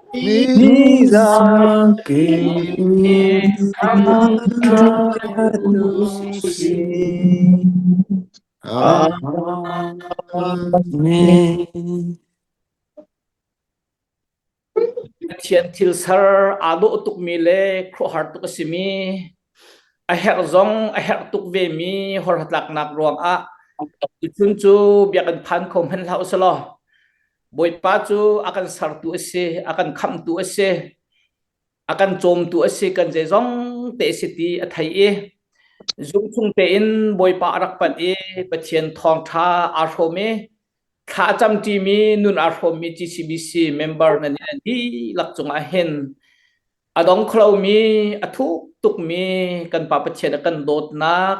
Nizangki kan ṭhatu sin amin. Pathian thil ser aa dawh tukmi le khuahar tuk a simi a herh zong a herh tuk vemi horhlatlaknak ruangah tuchun cu biakinn phan kho hmanh hlah u sih law Bawipa cu a kan sertu a si, a kan khamhtu a si, a kan cawmtu a si, kan zeizong te a si ti a thei i zumhfung tein Bawipa a rak panh i Pathian thawngṭha aa hrawm i thla a camṭimi nun aa hrawmmi GCBC member nan in a dihlak cungah hin a dong kho lomi, a thuk tukmi kan Pa Pathian a kan dawtnak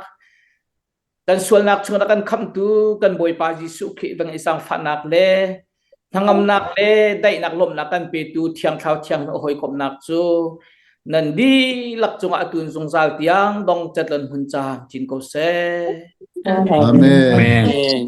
Kan sualnak chung a kan khamtu kan Bawipa Jesuh Khrih bang i sangfahnak le hnangamnak le daihnak lawmhnak kan petu Thiang Thlarau Thianghlim a hawikomhnak cu nan dihlak cungah a tun zungzal tiang dong catlon hun caan chin ko seh. Amen. Amen.